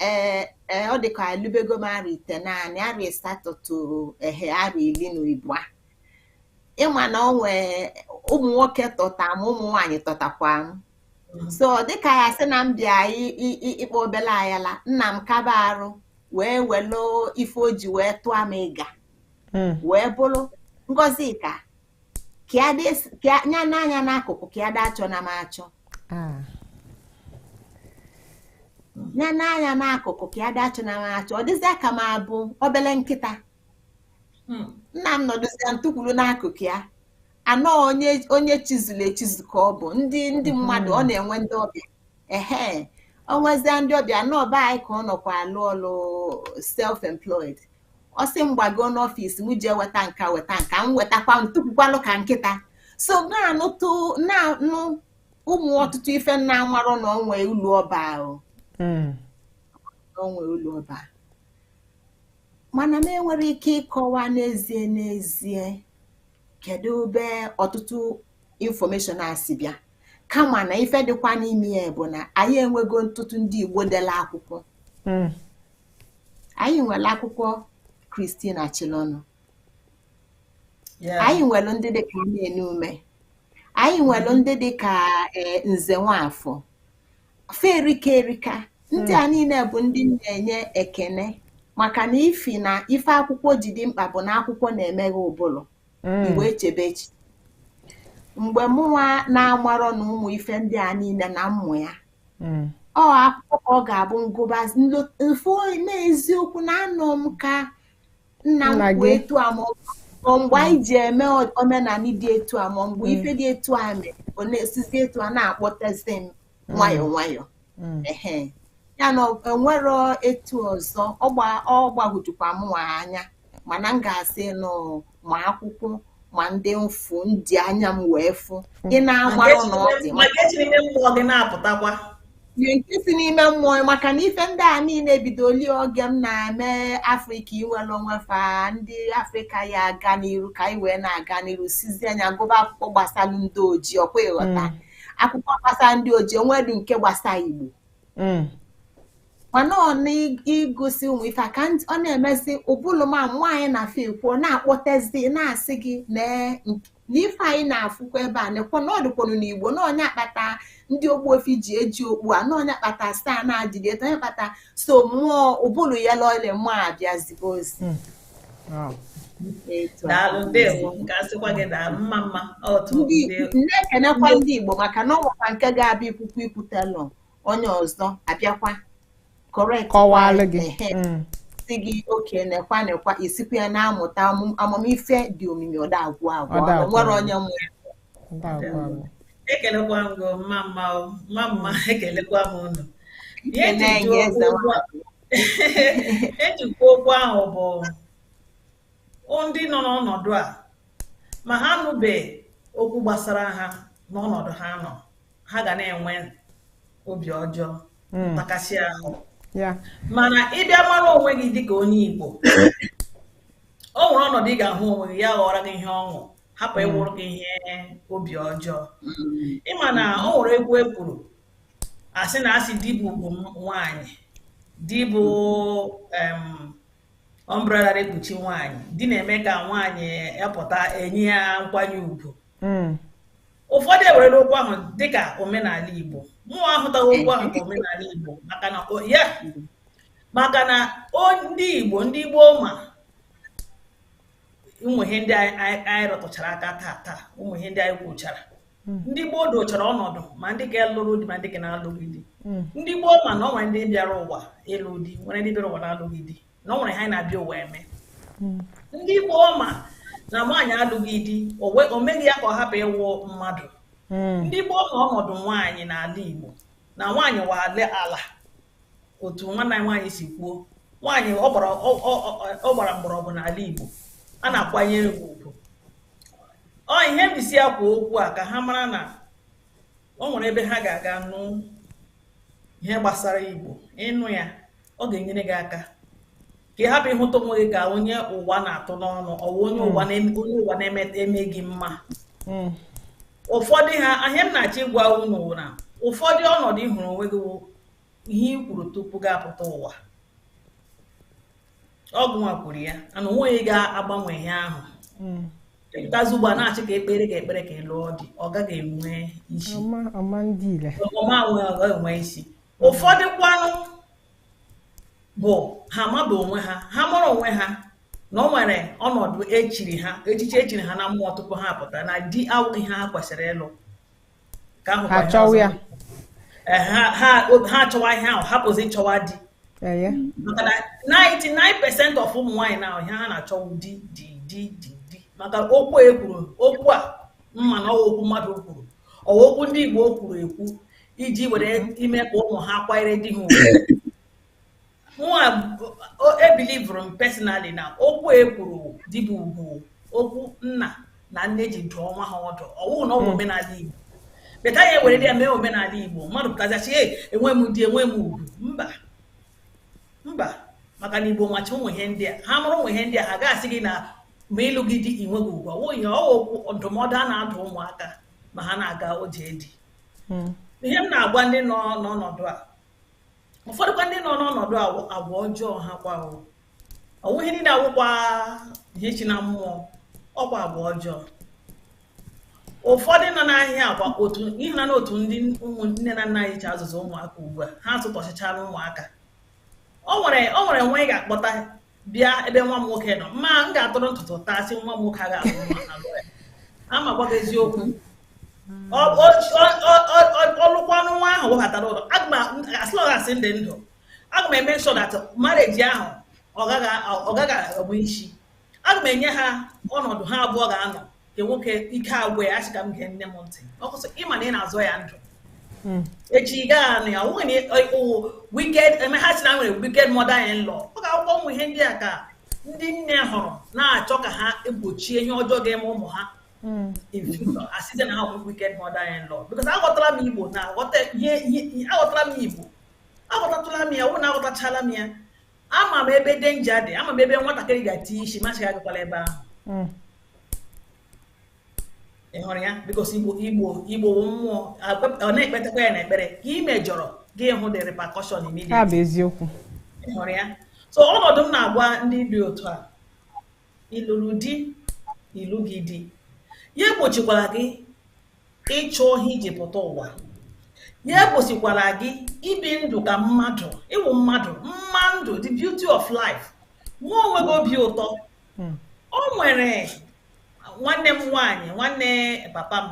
ee e, ọ dịka elubego m arọ itenaanị arọ asatọ toro ehe arọ ili na ibụa ị ma na ọ nwee ụmụ nwoke tọta m ụmụ nwaanyị tọtakwa m mm-hmm. so dịka ya sị na m bịa ịkpọ obele ayala nna m kaba arụ wee welu ife o ji wee tụọ m ịga mm. wee bụrụ ngozi ka kịa nya n'anya n'akụkụ ka ya dị achọ na m achọ nya n'anya n'akụkụ ka ya dị achọ na m achọ ọ dịzịa ka m abụ obele nkịta hmm. nna m nọdụzịa m tukwuru n'akụkụ ya anọ onye chizuru echizu ka ọ bụ ndị ndị mmadụ ọ na-enwe ndị ọbịa ehe o nwezie ndị ọbịa n'ọba anyị ka ọ nọkwa alụ ọlụ self employed ọ sị m gbago n'office m jee weta nka weta nka m wetakwa m tupukwalụ ka nkịta so na-anụtụ na-anụ ụmụ ọtụtụ ife nna amarụ na o nwe ụlọ ọba ahụ hmm. o nwe ụlọ ọba mana m enwere ike ịkọwa n'ezie n'ezie kedu ebe ọtụtụ infọmeshọn a si bịa kama na ife dịkwa n'ime ya bụ na anyị enwego ọtụtụ ndị Igbo dela akwụkwọ hmm. anyị nwelu akwụkwọ Catherine Acholonu anyị nwelu ndị dịka Anene Umeh anyị nwelu hmm. ndị dịka eh, Nze Nwafọ fa erika erika ndị a hmm. niile bụ ndị m na-enye ekene maka na ifi na ife akwụkwọ ji dị mkpa bụ na akwụkwọ na-emeghe ụbụlụ mm. mgbe echebe echi mgbe mụnwa na-amarọ na ụmụ ife ndị a niile na mmụ ya mm. ọ akwụkwọ ka ọ ga-abụ m gụba m fụ na eziokwu na anọ m ka nna m kwuo etu a ma ọ mgbe anyị ji eme omenanị dị etu a ma mgbe mm. ife dị etu a mere ọ na-esizi etu a na-akpọtezi m nwayọọ nwayọọ Mm. ehe ya na ọ- enwero etu ọzọ ọ gba- ọ gbagwojukwa mụnwa anya mana m ga-asị nụ ma akwụkwọ ma ndị m fụ ndị anya m wee fụ ị na-agbarụ na ọ dị maka eji n'ime mmụọ gị na-apụtakwa ihe nke si n'ime mmụọ maka na ife ndị a niile bidolu oge m na-eme afrịka inwelu onwe fa ndị afrịka ya aga n'iru ka anyị wee na-aga n'iru sizie anya gụba akwụkwọ gbasalu ndị ojii ọkwa ị ghọta akwụkwọ gbasa ndị ojii o nwedu nke gbasa igbo mm. mana ọ na ị gụsị ụmụ ife ka ọ na-emezi ụbụlụ ma nwaanyị na afọ ikwu na-akpọtezi na-asị gị na ife anyị na-afụkwa ebe a nekwa na ọ dịkwanụ na igbo na ọ nya kpata ndị Ogbuefi ji eji okpu a na ọ nya kpata staa na-adịghị eto ọ nya kpata so mmụọ ụbụlụ ya lọle mmụọ abịazigo ozi hmm. daalụ ndewo nke asịkwa gị daalụ mma mma na-ekenekwa ndị Igbo maka na o nwekwa nke ga-abịa ikwukwu ikwutelụ onye ọzọ abịakwa kọwalụ gị mm. sị gị oke nekwa nekwa i sikwa ya na-amụta amamife dị omimi ọ da-agwụ agwụ nwere onye nwere ekelekwa m gị mma mma mma mma ekelekwa m ụnụ ejikwa okwu ahụ bụ ndị nọ n'ọnọdụ a ma ha nụbe okwu gbasara ha n'ọnọdụ ha nọ ha ga na-enwe obi ọjọọ hmm. ntakasị ahụ mana ị bịa mara onwe gị dịka onye Igbo o nwere ọnọdụ ị ga-ahụ onwe gị ya ghọọrọ gị ihe ọṅụ hapụ ịwụrụ hmm. gị ihe obi ọjọọ hmm. ị ma na o nwere egwu e kwuru asị na asị di bụ ugwu nwaanyị di bụ umbrella na-ekpuchi nwaanyị di na-eme ka nwaanyị apụta enye ya nkwanye ugwu hmm. ụfọdụ ewerela okwu ahụ dịka omenala Igbo mụwa ahụtaghị okwu ahụ ka omenala Igbo maka na maka na ndị Igbo ndị Igbo ma ụmụ ihe ndị anyị rụtụchara aka taa taa ụmụ ihe ndị anyị kwuchara hmm. ndị Igbo dochara ọnọdụ ma ndị ga-alụrụ di ma ndị ga na-alụghị di hmm. ndị Igbo ma na o nwere ndị bịara ụwa ịlụ di nwere ndị bịara ụwa na-alụghị di na o nwere ihe ha na-abịa ụwa eme hmm. ndị Igbo ma na nwaanyị alụghị di o meghị ya ka ọ hapụ ịwụ mmadụ ndị Igbo ma ọnọdụ nwaanyị n'ala Igbo na nwaanyị wụ ala ala otu nwanne anyị nwaanyị si kwuo nwaanyị ọ gbara mgbọrọgwụ n'ala Igbo a na-akwanyere ugwu ọ ihe m jisi ekwu okwu a ka ha mara na o nwere ebe ha ga-aga nụ ihe gbasara igbo ịnụ ya ọ ga-enyere gị aka ka ị hapụ ịhụta onwe gị ka onye ụwa na-atụ n'ọnụ ọwụ onye hmm. ụwa na-emeghị mma hmm. ụfọdụ ha ihe m na-achọ ịgwa unu wụ na ụfọdụ ọnọdụ ị hụrụ onwe gị ihe i kwuru tupu gị apụta ụwa ọ gịnwa kwuru ya and onweghị ihe ga-agbanwe ihe ahụ hmm. ị pụtazi ugbu a na-achị ka ekpere ka ekpere ka ị lụọ di ọ gaghị enwe isi ọ ma enwe isi ụfọdụ kwanụ bụ ha maba onwe ha ha mụrụ onwe ha na o nwere ọnọdụ e chiri ha echichi e chiri ha na mmụọ tupu ha apụta na di awụghị ihe ha kwesịrị ịlụ ka ahụ ha chọwa ya eh, ha chọwa ihe ahụ hapụzi ịchọwa di maka na 99 percent of ụmụ nwaanyị now ihe ha na-achọ wụ di di di di di maka okwu a e kwuru okwu a m ma na ọwụ okwu mmadụ kwuru ọwụ okwu ndị Igbo kwuru ekwu iji were ime ka ụmụ ha kwanyere di ha ugwu mụnwa believe-rụ m personally na okwu e kwuru di bụ ugwu okwu nna na nne ji dụọ nwa ha ọdụ ọwụ na ọ bụ omenala igbo but anyị eweredị ya mee omenala igbo mmadụ pụtazi asị enwe m di enwe m ugwu mba mba maka na igbo macha ụmụ ihe ndị a ha mụrụ ụmụ ihe ndị a ha ga-asị gị na ma ị lụghị di i nweghị ugwu ọwụ ihe ọwụ okwu ndụmọdụ a na-adụ ụmụaka ma ha na-aga ije di ihe m na-agwa ndị nọ n'ọnọdụ a ụfọdụkwa ndị nọ n'ọnọdụ agwa ọjọọ ha kwa ọwụ ihe niile awụkwa ihe chi na mmụọ ọkwa agwa ọjọọ ụfọdụ nọ n'ahịa agwa otu n'ihi na otu ndị nne na nna anyị ji azụzi ụmụaka ugbu a ha zụtọchịchara ụmụaka o nwere o nwere nwa ị ga-akpọta bịa ebe nwa m nwoke nọ ma m ga-atụrụ ntụtụ taa sị nwa m nwoke a ga-alụ ama gwa gị eziokwu ọ lụkwanụ nwa ahụ webatara ụlọ as long as m dị ndụ aga m eme sure that marriage ahụ ọ gaghị abụ isi aga m enye ha ọnọdụ ha abụọ ga-anọ nke nwoke ike agwụ ya ọ sị ka m gee nne m ntị ọ kwụsị ị ma na ị na-azọ ya ndụ hmm. echi ị gaghị anụ ya nwunye wicked eme ha si na nwere wicked mother in law ọ ga-awụkwa ụmụ ihe ndị a ka ndị nne hụrụ na-achọ ka ha egbochie ihe ọjọọ ga-eme ụmụ ha hmm. a sịzie na ha bụ wicked mother in law because aghọtara m igbo na aghọtara m igbo aghọtatụla m ya wụ na aghọtachala m ya ama m ebe danger dị ama m ebe nwatakịrị ga-eti isi m asị ya agakwala ebe ahụ hmm. ị hụrụ ya because igbo igbo igbo mmụọ ọ na-ekpetakwa ya n'ekpere ka ị mejọrọ gị hụ the repercussion immediately eziokwu ị hụrụ ya so ọnọdụ m na-agwa ndị dị otu a ị lụrụ di ị lụghị di ya egbochikwara gị ịchọ ihe i ji pụta ụwa ya egbochikwara gị ibi ndụ ka mmadụ ị wụ mmadụ mma ndụ the beauty of life nwa onwe gị obi ụtọ hmm. o nwere nwanne m nwaanyị nwanne papa m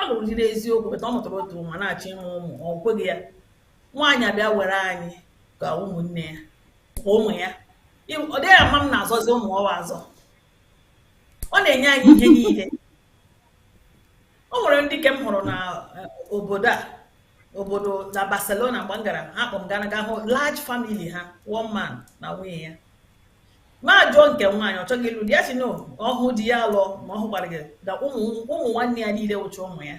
ọ lụrụ di n'eziokwu but ọ mụtara otu nwa na-achọ ịmụ ụmụ ọ kweghị ya nwaanyị abịa were anyị ka ụmụnne ya ka ụmụ ya ọ dịghị ama m na-azọzi ụmụ ọwa azọ ọ na-enye anyị ihe niile o nwere ndị ke m hụrụ na eh, obodo a obodo na Barcelona mgbe m gara ha kpọ m gara ga hụ large family ha one man na nwunye ya m ajụọ nke nwaanyị ọ chọghị ịlụ di ya sị na ọ hụ di ya alụọ ma ọ hụkwaghị na ụmụ ụmụ nwanne ya niile wụcha ụmụ ya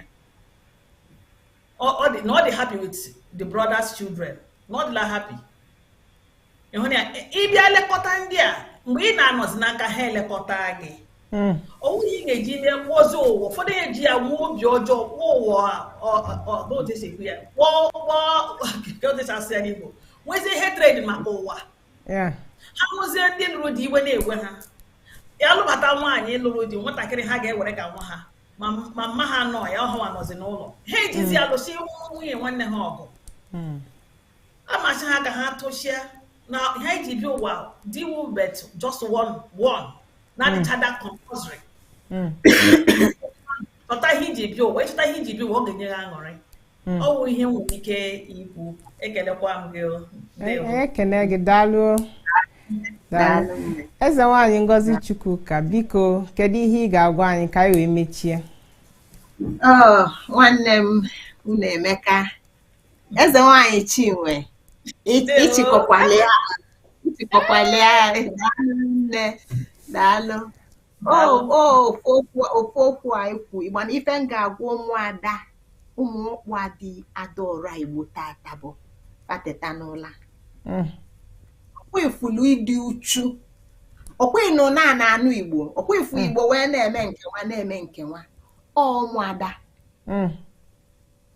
Ọ- ọ dị- na ọ dị happy with the brother's children na ọ dịla happy ịhụ na ya ịbịa lekọta ndị a mgbe ị na-anọzi n'aka ha elekọta gị Mm. ọ wụghị ihe ị ga-eji mee kpọzi ụwa ụfọdụ eji ya nwee obi ọjọọ kpọọ ụwa ọ- ọ- ọ- n'otu esi ekwu ya kpọọ kpọọ ka otu esi asụ ya n'Igbo nwezie hatred maka ụwa ha hụzie ndị lụrụ di iwe na-ewe ha ya lụbata nwaanyị lụrụ di nwatakịrị ha ga-ewere ka nwa ha ma mma ha nọ ya ọhụwa nọzi n'ụlọ ha ejizi hmm. alụsị nwunye nwanne ha ọgụ hmm. m asị ha ka ha kwụsị ya na ihe e ji bi ụwa dị ukwuu but just one one adịchaghị hmm. compulsory chọta ihe i ji bi ụwa ị chọta ihe i ji bi ụwa ọ ga-enye ha aṅụrị hmm. ọ wụ ihe m nwere ike ikwu ekelekwa m gị ekene gị daalụ eze nwaanyị ngozi chukwuka biko kedu ihe ị ga-agwa anyị ka anyị wee mechie oh, nwanne m unu emeka eze nwaanyị chinwe ịchịkọkwala ya nne daalụ ofu okwu a ikwu ịgba na ife m ga-agwa ụmụada ụmụ ọkpụ adị adaora igbo tata bụ fa teta n'ụla mm. ọkwa ifulu ịdị uchu ọkwa ịnụ na ana anụ igbo ọkwa ifu mm. igbo wee na-eme nkewa na-eme nkewa ụmụada mm.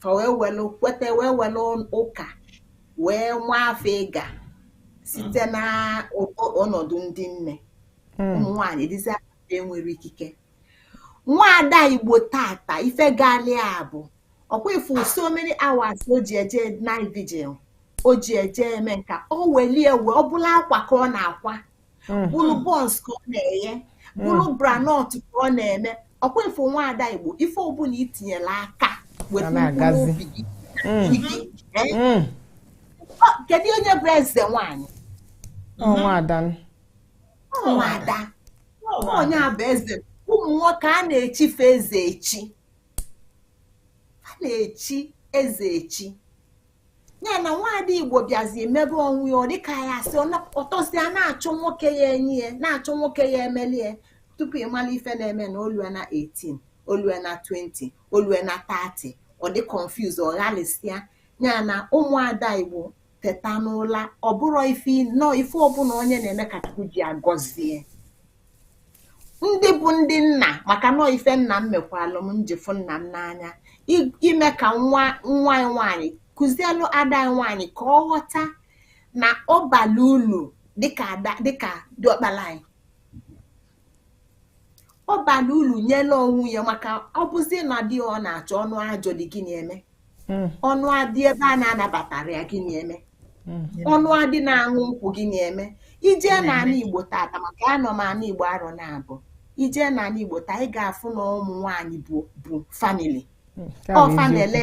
fa wee welu kweta wee welu ụka wee waa afọ ịga site na ụkọ- ọnọdụ ndị nne ụmụ nwaanyị dịzi aka enwere ikike nwaada igbo tata ife gaali a bụ ọkwa ifu so many hours o ji eje night vigil o ji eje eme nka o welie wee ọ bụlụ akwa ka ọ na-akwa hmm. bụrụ buns ka ọ na-eye hmm. bụrụ groundnut ka ọ na-eme ọkwa ifu nwaada igbo ife ọbụla i tinyela aka wetuo obi gị hmm. kedu onye bụ eze nwanyị nwaada onye a bụ eze ụmụ nwoke a na-echi fa eze echi a na-echi eze echi ya na nwaada igbo bịazi mebe onwe ya ọ dịka ya asị o tosia na-achọ nwoke ya enye ya na-achọ nwoke ya emeli ya tupu ịmala ife na-eme na o lue na 18 o lue na 20 o lue na 30 ọ dị confuse ọ ghalịsịa ya na ụmụada igbo teta n'ụla ọ bụrọ ife nọọ ife ọbụla onye na-eme ka chukwu ji agọzi ya ndị bụ ndị nna maka na ọ ife nna m mekwalụ m m ji fụ nna m n'anya ime ka nwa nwa gị nwaanyị kụzielụ ada gị nwaanyị ka ọ ghọta na ọ bala ulu dịka ada dịka diọkpala gị ọ bala ulu nyela onwe ya maka ọ bụzi na di ọ na-achọ ọ nụa ajọ di gịnị eme hmm. ọ nụa di ebe a na-anabatarọ ya gịnị eme hmm. ọ nụa di na-aṅụ nkwụ gịnị eme i je na ala igbo tata maka anọ m ala igbo arọ naabụ i je na ala igbo taa ị ga-afụ na ụmụ nwaanyị bu family hmm. ọ fa na-ele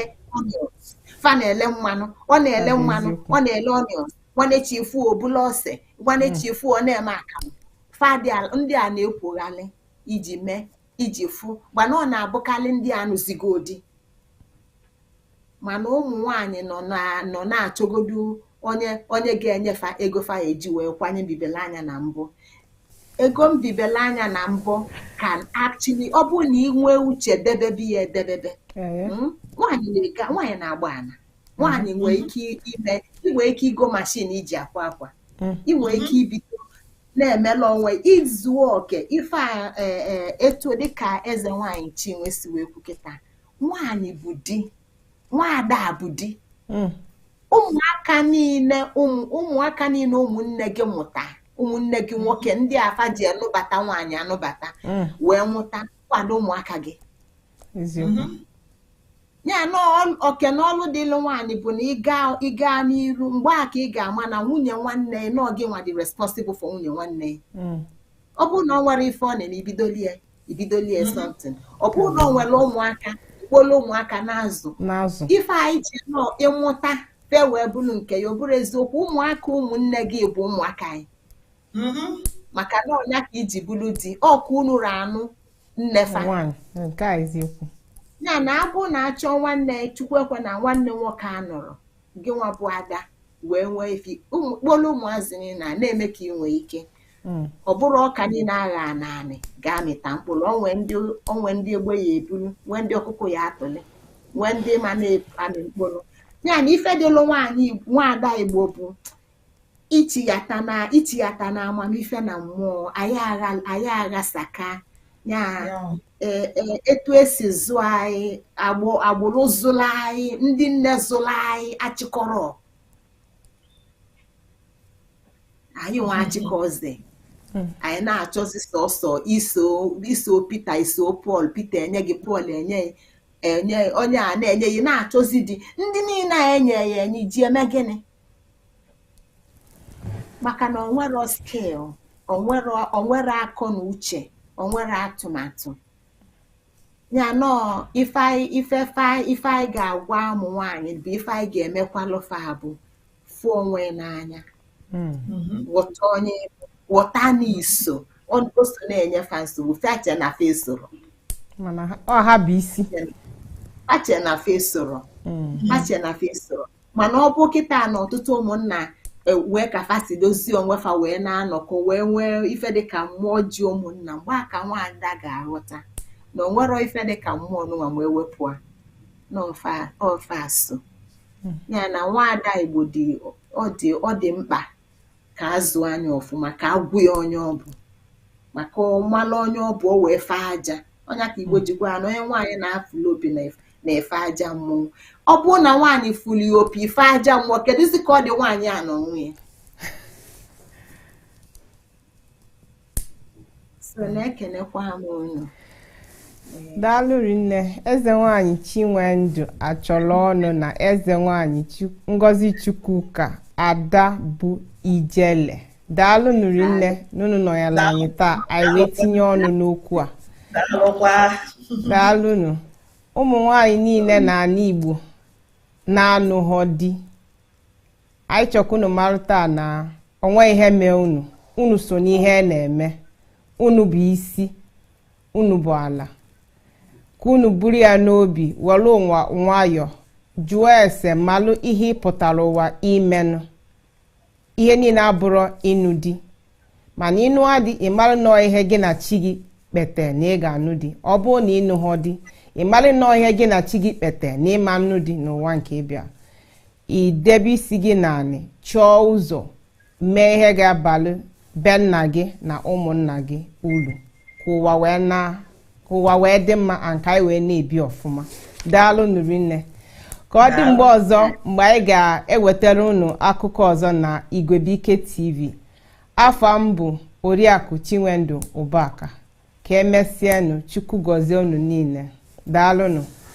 fa na-ele mmanụ ọ na-ele mmanụ ọ na-ele onions nwanne chi fo o bulu ose nwanne chi fo ọ na-eme akamụ fa ndị a na-ekwoghalị iji mee iji fụ ma na ọ na-abụkarị ndị a nụzigo di mana ụmụ nwaanyị nọ na nọ na-achọgodu onye onye ga-enye fa ego fa eji wee kwanye mbibele anya na mbọ ego mbibele anya na mbọ can actually ọ bụrụ na ị nwee uche debebe ya edebebe hmm? nwaanyị na-ega nwaanyị na-agba ana nwaanyị nwee ike ime ị nwee ike igo mashin e ji akwa akwa ị nwee ike ibido na-emela onwe izu oke ife a e, e, etu dịka eze nwaanyị chinwe si wee kwu kịta nwaanyị bụ di nwaada bụ di hmm. ụmụaka niile ụmụaka niile ụmụnne gị mụta ụmụnne gị nwoke hmm. ndị a fa ji anụbata nwaanyị anụbata hmm. wee mụta kwado ụmụaka gị ya na oke na ọlụ dịlụ nwaanyị bụ na ịga ịga n'iru mgbe a ka ị ga-ama na nwunye nwanne ya na gị nwa dị responsible for nwunye nwanne ya mm. ọ bụrụ na ọ nwere ife ọ na-eme ibidolie ibidolie mm-hmm. something ọ bụrụ na ọ nwere ụmụaka ị kpọlụ ụmụaka na-azụ ife anyị ji nọ ịmụta fe wee bụrụ nke ya ọ bụrụ eziokwu ụmụaka ụmụnne gị bụ ụmụaka anyị mm-hmm. maka na ọ nya ka i ji bụrụ di ọkwa unu na-anụ nnefa nke a eziokwu ya na abụ na-achọ nwanne chukwu ekwena nwanne nwoke anọrọ gị nwa bụ ada wee nwee ife ị kpọlụ ụmụazị niile a na-eme ka ị nwee ike hmm. ọ bụrọ ọka niile a ghaa n'anị ga-amịta mkpụrụ o nwee ndị egbe ya-ebulu nwee ndị ọkụkọ ya-atụle nwee ndị ma na-amị mkpụrụ ya na ife dịlụ nwaanyị nwaada igbo bụ ichighata na ichighata na amamife na mmụọ anyị aghasaka ya e, e, etu e si zụọ anyị agbụrụ zụrụ anyị ndị nne zụrụ anyị achịkọrọ anyị nwa achịkọzi hmm. anyị na-achọzi sọsọ iso iso Pita iso Pọl Pita enye gị Pọl enye enye onye a na-enye gị na-achọzi di ndị niile a enye ya enye ji eme gịnị maka na o nwerọ skill o nwerọ o nwerọ akọ na uche o nwerọ atụmatụ ya nọọ ife anyị ife fe anyị ife anyị ga-agwa ụmụ nwaanyị bụ ife anyị ga-emekwalụ fa bụ fụ onwe n'anya ghọta onye ghọta na iso o o so na-enye fa nsogbu fa che na fa esorọ mana ha- ọ ha bụ isi fa che na fa esorọ fa che na fa esorọ mana ọ bụ kịta na ọtụtụ ụmụnna e, wee ka fa si dozie onwe fa wee na-anọkọ wee nwee ife dịka mmụọ ji ụmụnna mgbe a ka nwaada ga-aghọta na o nwerọ ife dịka mmụọ nụnwa ma ewepụ a n'ofe asụ hmm. ya na nwaada igbo dị ọ dị mkpa kà azụ̀ anya ọ̀fụma kà a gwa ya onye ọ bụ̀ màkà ọ̀ mara onye ọ bụ̀ o wèe fee ajā ọ ya kà ìgbo jì gwa ya nà onye nwaànyị nà-afụ̀lụ opì nà-èfe aja mmụọ ọ bụrụ nà nwaànyị fụ̀lụ̀ òpì fee aja mmụọ kèdụzị kà ọ dị̀ nwaànyị à nà ònwe ya daalụ rinne eze nwanyị chinwendu achọlọnụ na eze nwanyị ngozi chukwuka ada bụ ijele daalụnụ rinne na unu nọnyelụ anyị taa anyị wee tinye ọnụ n'okwu a daalụnụ ụmụ nwanyị niile na ala igbo na-anụghọ di anyị chọ ka unu malụ taa na o nwe ihe mee unu unu so n'ihe a na-eme unu bụ isi unu bụ ala ka unu buru ya n'obi were ụwa nwayọọ jụọ ese malụ ihe ị pụtara ụwa imenụ ihe niile abụrọ ịnụ di mana ị nụọ di ị malụ na ọ ihe gị na chi gị kpete na ị ga-anụ di ọ bụrụ na ị nụhọ di ị malụ na ọ ihe gị na chi gị kpete na ị ma anụ di n'ụwa nke ị bịa i debe isi gị n'anị chọọ ụzọ mee ihe ga-abalụ be nna gị na ụmụnna gị ulu ka ụwa wee na ka ụwa wee dị mma and ka anyị wee na-ebi ọfụma daalụnụ rinne ka ọ dị mgbe ọzọ mgbe anyị ga-ewetara unu akụkọ ọzọ na Igwebuike TV afa m bụ Oriakụ Chinwendu Ụbaka ka e mesịanụ Chukwu gọzie unu niile daalụnụ